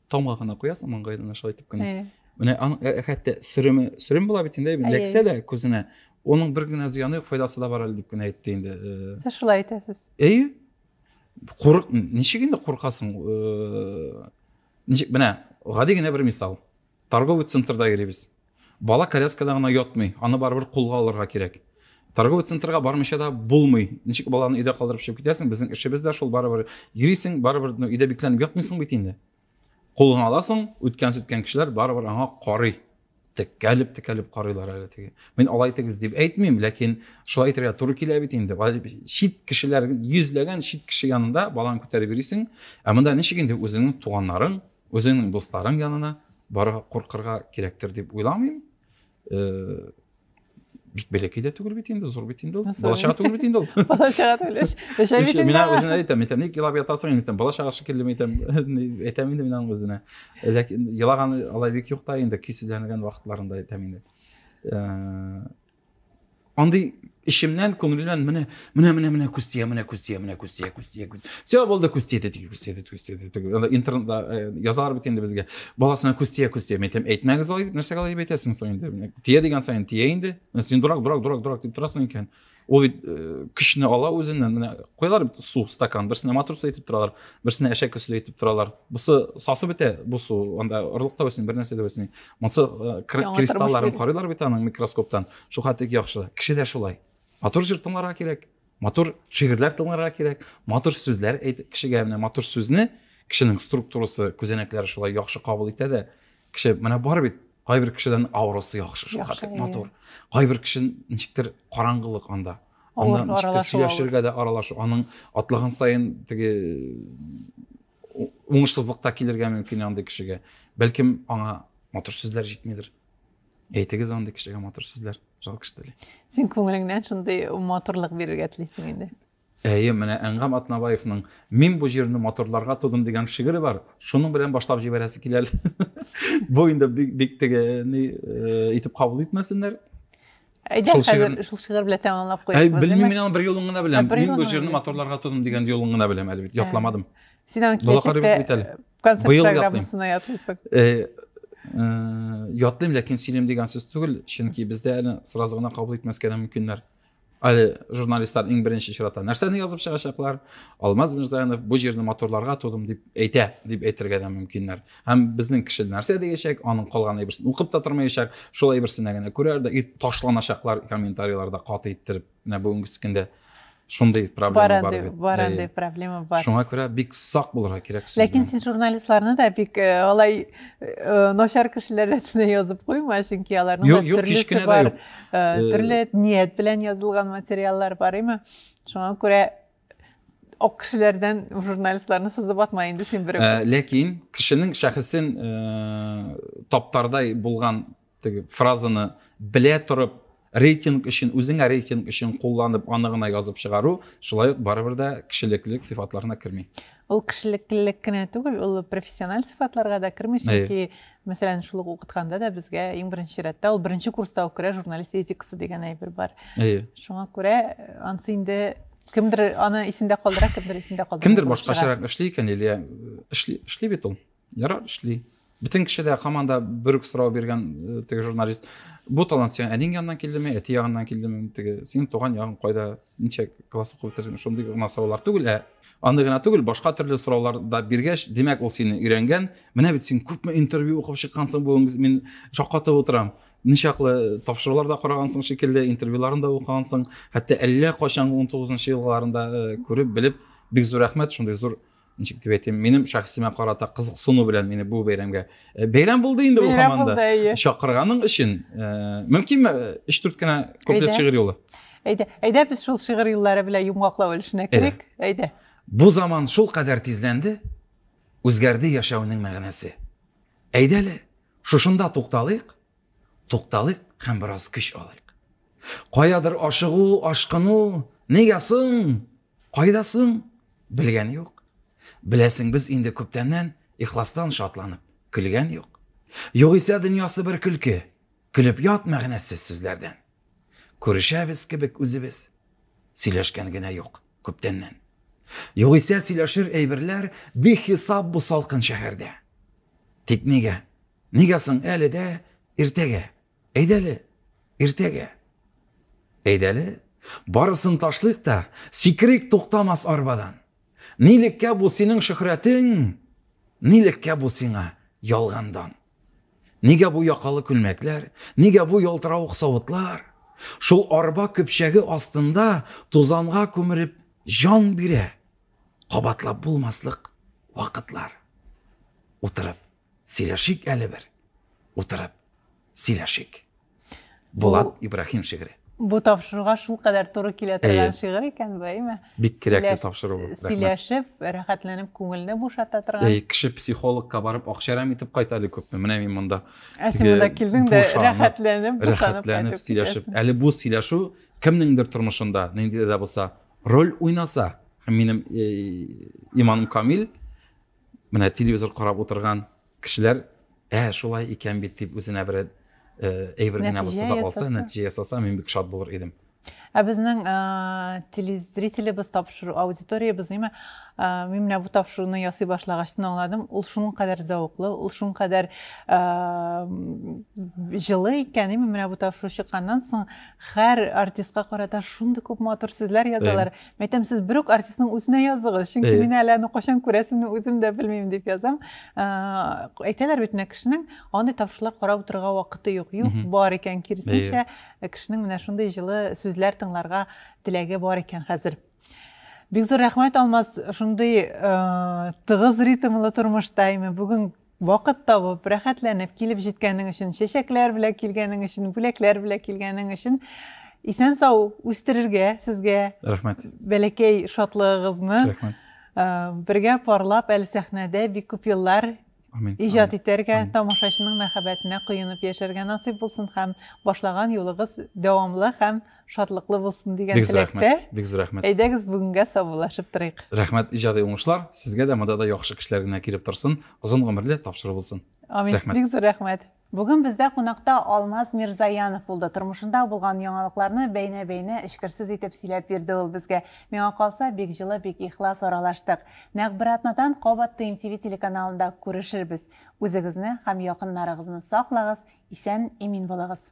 Томга гына куясың маңгаена шулай итеп кенә. Менә аның хәтта сөреме, сөрем була бит инде, ләксә дә күзенә. Оның бер генә зыяны юк, файдасы да бар әле дип кенә әйтте инде. Сез шулай әйтәсез. Әйе. Курык, ничек инде куркасың? Ничек, менә гади генә бер мисал. Торговый центрда йөрибез. Бала коляскада гына ятмый, аны барыбер кулга алырга кирәк. Торговый центрга бармыйча да булмый. Ничек баланы өйдә калдырып чыгып китәсең? Безнең эшебез дә шул, барыбер йөрисең, барыбер ну, өйдә бикләнеп ятмыйсың бит инде. Кулыңа аласың, үткән-сүткән кешеләр барыбер аңа карый. Текәлеп, текәлеп карыйлар әле теге. Мин алай итегез дип әйтмим, ләкин шулай итәргә туры килә бит инде. Чит кешеләр, йөзләгән чит кеше янында баланы күтәреп йөрисең, ә монда ничек инде үзеңнең туганнарың, Үзеңнең дусларың янына барырга куркырга кирәктер дип уйламыйм. Э, бик бәләкәй дә түгел бит инде зур бит инде ул бала чага түгел бит инде ул бала чага түгел эш эшә бит инде мин үзенә әйтәм әйтәм ник елап ятасың әйтәм бала чага шикелле әйтәм әйтәм инде мин аның үзенә ләкин елаганы алай бик юк та инде көйсезләнгән вакытларында әйтәм инде Андый эчемнән, күңелемнән менә, менә, менә, менә күз тия, менә күз тия, менә күз тия, күз тия, күз. Все булды, күз тия, теге күз тия, күз тия, теге. Анда интернетта э, язалар бит инде безгә. Баласына күз тия, күз тия. Мен әйтәм, әйтмәгез алай дип, нәрсәгә алай дип әйтәсең соң инде? Тия дигән саен тия инде. Син дурак, дурак, дурак, дурак дип торасың икән. Ул бит э, көчне ала үзеннән. Менә куялар бит су стакан, берсенә матрос әйтеп торалар, берсенә әшәк көсү әйтеп торалар. Бусы сасы бетә, бу су, анда орлык та үсми, бер нәрсә дә үсми. Монсы э, кристалларын карыйлар бит аның микроскоптан. Шул хәтле яхшы. Кеше дә шулай. Матур җыр тыңларга кирәк. Матур шигырьләр тыңларга кирәк. Матур сүзләр әйтеп кешегә менә матур сүзне кешенең структурасы, күзәнәкләре шулай яхшы кабул итә дә. Кеше менә бар бит кайбер кешедән авросы яхшы шул хәтле матур. Кайбер кеше ничектер караңгылык анда. Анда ничектер сөйләшергә дә аралашу. Аның атлаган саен теге уңышсызлык та килергә мөмкин андый кешегә бәлкем аңа матур сүзләр җитмидер әйтегез андый кешегә матур сүзләр жалко что ли син күңелеңнән шундый матурлык бирергә телисең инде әйе менә әнгам атнабаевның мин бу җирне матурларга тудым дигән шигыре бар шуның белән башлап җибәрәсе килә әле бу инде бик теге ни э, итеп кабул итмәсеннәр Әйдә шул хәзер шигыр... шул шигырь белән тәмамлап куябыз. Белмим мин аны бер юлын гына беләм. Мин бу җырны моторларга тудым дигән юлын гына беләм әле бит, ятламадым. Син аны киләчәктә концерт программасына ятлыйсың. Э, э, ятлыйм, ләкин сөйлим дигән сүз түгел, чөнки бездә әле сразу гына кабул итмәскә дә мөмкиннәр. Әле журналистлар иң беренче чиратта нәрсәне язып чыгачаклар? Алмаз Мирзаянов бу җирне моторларга тудым дип әйтә, дип әйтергә дә мөмкиннәр. һәм безнең кеше нәрсә дияшәк аның калган әйберсен укып та тормаячак шул әйберсенә генә күрәр дә и ташланачаклар комментарийларда каты иттереп менә бүгенге көндә шундый проблема бар бит бар андый проблема бар шуңа күрә бик сак булырга кирәк ләкин син журналистларны да бик э, алай э, начар кешеләр рәтенә язып куйма чөнки аларның да төрлесе бар э, төрле ният белән язылган материаллар бар име шуңа күрә ак кешеләрдән журналистларны сызып атма инде син берәү. Э, ләкин кешенең шәхесен э, таптардай булган теге фразаны белә торып рейтинг өчен үзеңә рейтинг өчен кулланып аны гына язып чыгару шулай ук барыбер дә кешелеклелек сыйфатларына керми Ул кешелеклелек кенә түгел, ул профессиональ сыйфатларга да керми, чөнки, мәсәлән, шул ук укытканда да безгә иң беренче рәттә ул беренче курста ук керә, журналист этикасы дигән әйбер бар. Әйе. Шуңа күрә э, ансы инде кемдер аны исендә калдыра, кемдер исендә калдыра. Кемдер башкачарак эшли икән, Лилия эшли, эшли бит ул. ярар эшли бөтен кеше дә һаман да бер үк сорау биргән э, теге журналист бу талант сиңа әнең яныннан килдеме әти ягыннан килдеме теге синең туган ягың кайда ничә класс укып бетердең шундый гына сораулар түгел ә аны гына түгел башка төрле сораулар да биргәч димәк ул сине өйрәнгән менә бит син күпме интервью укып чыккансың бүген мин шаккатып утырам ничаклы тапшырулар да карагансың шикелле интервьюларын да укыгансың хәтта әллә кайчанғы он елларында э, күреп белеп бик зур рәхмәт шундый зур ничек дип әйтим минем шәхсемә карата кызыксыну белән мине бу бәйрәмгә э, бәйрәм булды инде бу һаман да чакырганың өчен э, мөмкинме э, өч дүрт кенә куплет шигырь юлы әйдә әйдә без шул шигырь юллары белән йомгаклау өлешенә керик әйдә бу заман шул кадәр тизләнде үзгәрде яшәүнең мәгънәсе әйдә әле шушында тукталыйк тукталыйк һәм бераз көч алыйк каядыр ашыгу ашкыну нигә соң Кайда соң? Белгән юк. Беләсең, без инде күптәннән ихластан шатланып көлгән юк. Югыйсә дөньясы бер көлке. Көлеп ят мәгънәсез сүзләрдән. Күрешәбез кебек үзебез. Сөйләшкән генә юк күптәннән. Югыйсә сөйләшер әйберләр бихисап бу салкын шәһәрдә. Тик нигә? Нигә соң әле дә иртәгә Әйдәле, иртәгә. Әйдәле, барысын ташлыйк та, сикрик туктамас арбадан. Нилеккә бу синең шөхрәтең, нилеккә бу сиңа ялгандан. Нигә бу якалы күлмәкләр, нигә бу ялтыравык савытлар? Шул арба көпчәге астында тузанга күмереп җан бирә. Кабатлап булмаслык вакытлар. Утырып Сөйләшик әле бер. Утырып сөйләшик. Булат Ибраһим шигыре. Бу тапшыруга шул кадәр туры килә торган шигырь икән бу, әйме? Бик кирәкле тапшыру бу. Сөйләшеп, рәхәтләнеп, күңелне бушата торган. Әй, кеше психологка барып акчарам итеп кайта әле күпме? Менә мин монда. Ә син монда килдең дә рәхәтләнеп, бушанып кайтып сөйләшеп. Әле бу сөйләшү кемнеңдер тормышында, нинди дә булса, роль уйнаса, минем иманым камил, Менә телевизор карап утырган кешеләр, ә шулай икән бит дип үзенә бер әйбер генә булса да алса, нәтиҗә ясаса, мин бик шат булыр идем. Ә безнең телезрителебез тапшыру, аудиториябез, ниме, мин менә бу тапшыруны ясый башлагач тын аңладым, ул шуның кадәр зәвыклы, ул шуның кадәр җылы икән, ниме, менә бу тапшыру чыкканнан соң һәр артистка карата шундый күп матур сүзләр язалар. Мәйтәм, сез бер үк артистның үзенә яздыгыз, чөнки мин әле аны кайчан күрәсемне үзем дә белмим дип язам. Э, әйтәләр бит менә кешенең андый тавышлар карап утырырга вакыты юк. Юк, бар икән, киресенчә, э, кешенең менә шундый җылы сүзләр тыңларга теләге бар икән хәзер. Бик зур рәхмәт Алмаз, шундый э, тыгыз ритмлы тормышта, әйме, бүген Вакыт табып, рәхәтләнеп килеп җиткәнең өчен, чәчәкләр белән килгәнең өчен, бүләкләр белән килгәнең өчен исән сау үстерергә сезгә. Рәхмәт. Бәләкәй шатлыгыгызны. Рәхмәт. Э, бергә парлап әле сәхнәдә бик күп еллар иҗат итәргә тамашачының мәхәббәтенә коенып яшәргә насыйп булсын һәм башлаган юлыгыз дәвамлы һәм шатлыклы булсын дигән теләктә бик зур рәхмәт әйдәгез бүгенгә саубуллашып торыйк рәхмәт иҗади уңышлар сезгә дә монда да яхшы кешеләр генә килеп торсын озын гомерле тапшыру булсын амин рәхмәт бик зур рәхмәт Бүген бездә кунакта Алмаз Мирзаянов булды. Тормышында булган яңалыкларны бәйнә-бәйнә эчкерсез итеп сөйләп бирде ул безгә. Миңа калса, бик җылы, бик ихлас аралаштык. Нәкъ бер атнадан кабат ТМТВ телеканалында күрешербез. Үзегезне һәм якыннарыгызны саклагыз, исән, имин булыгыз.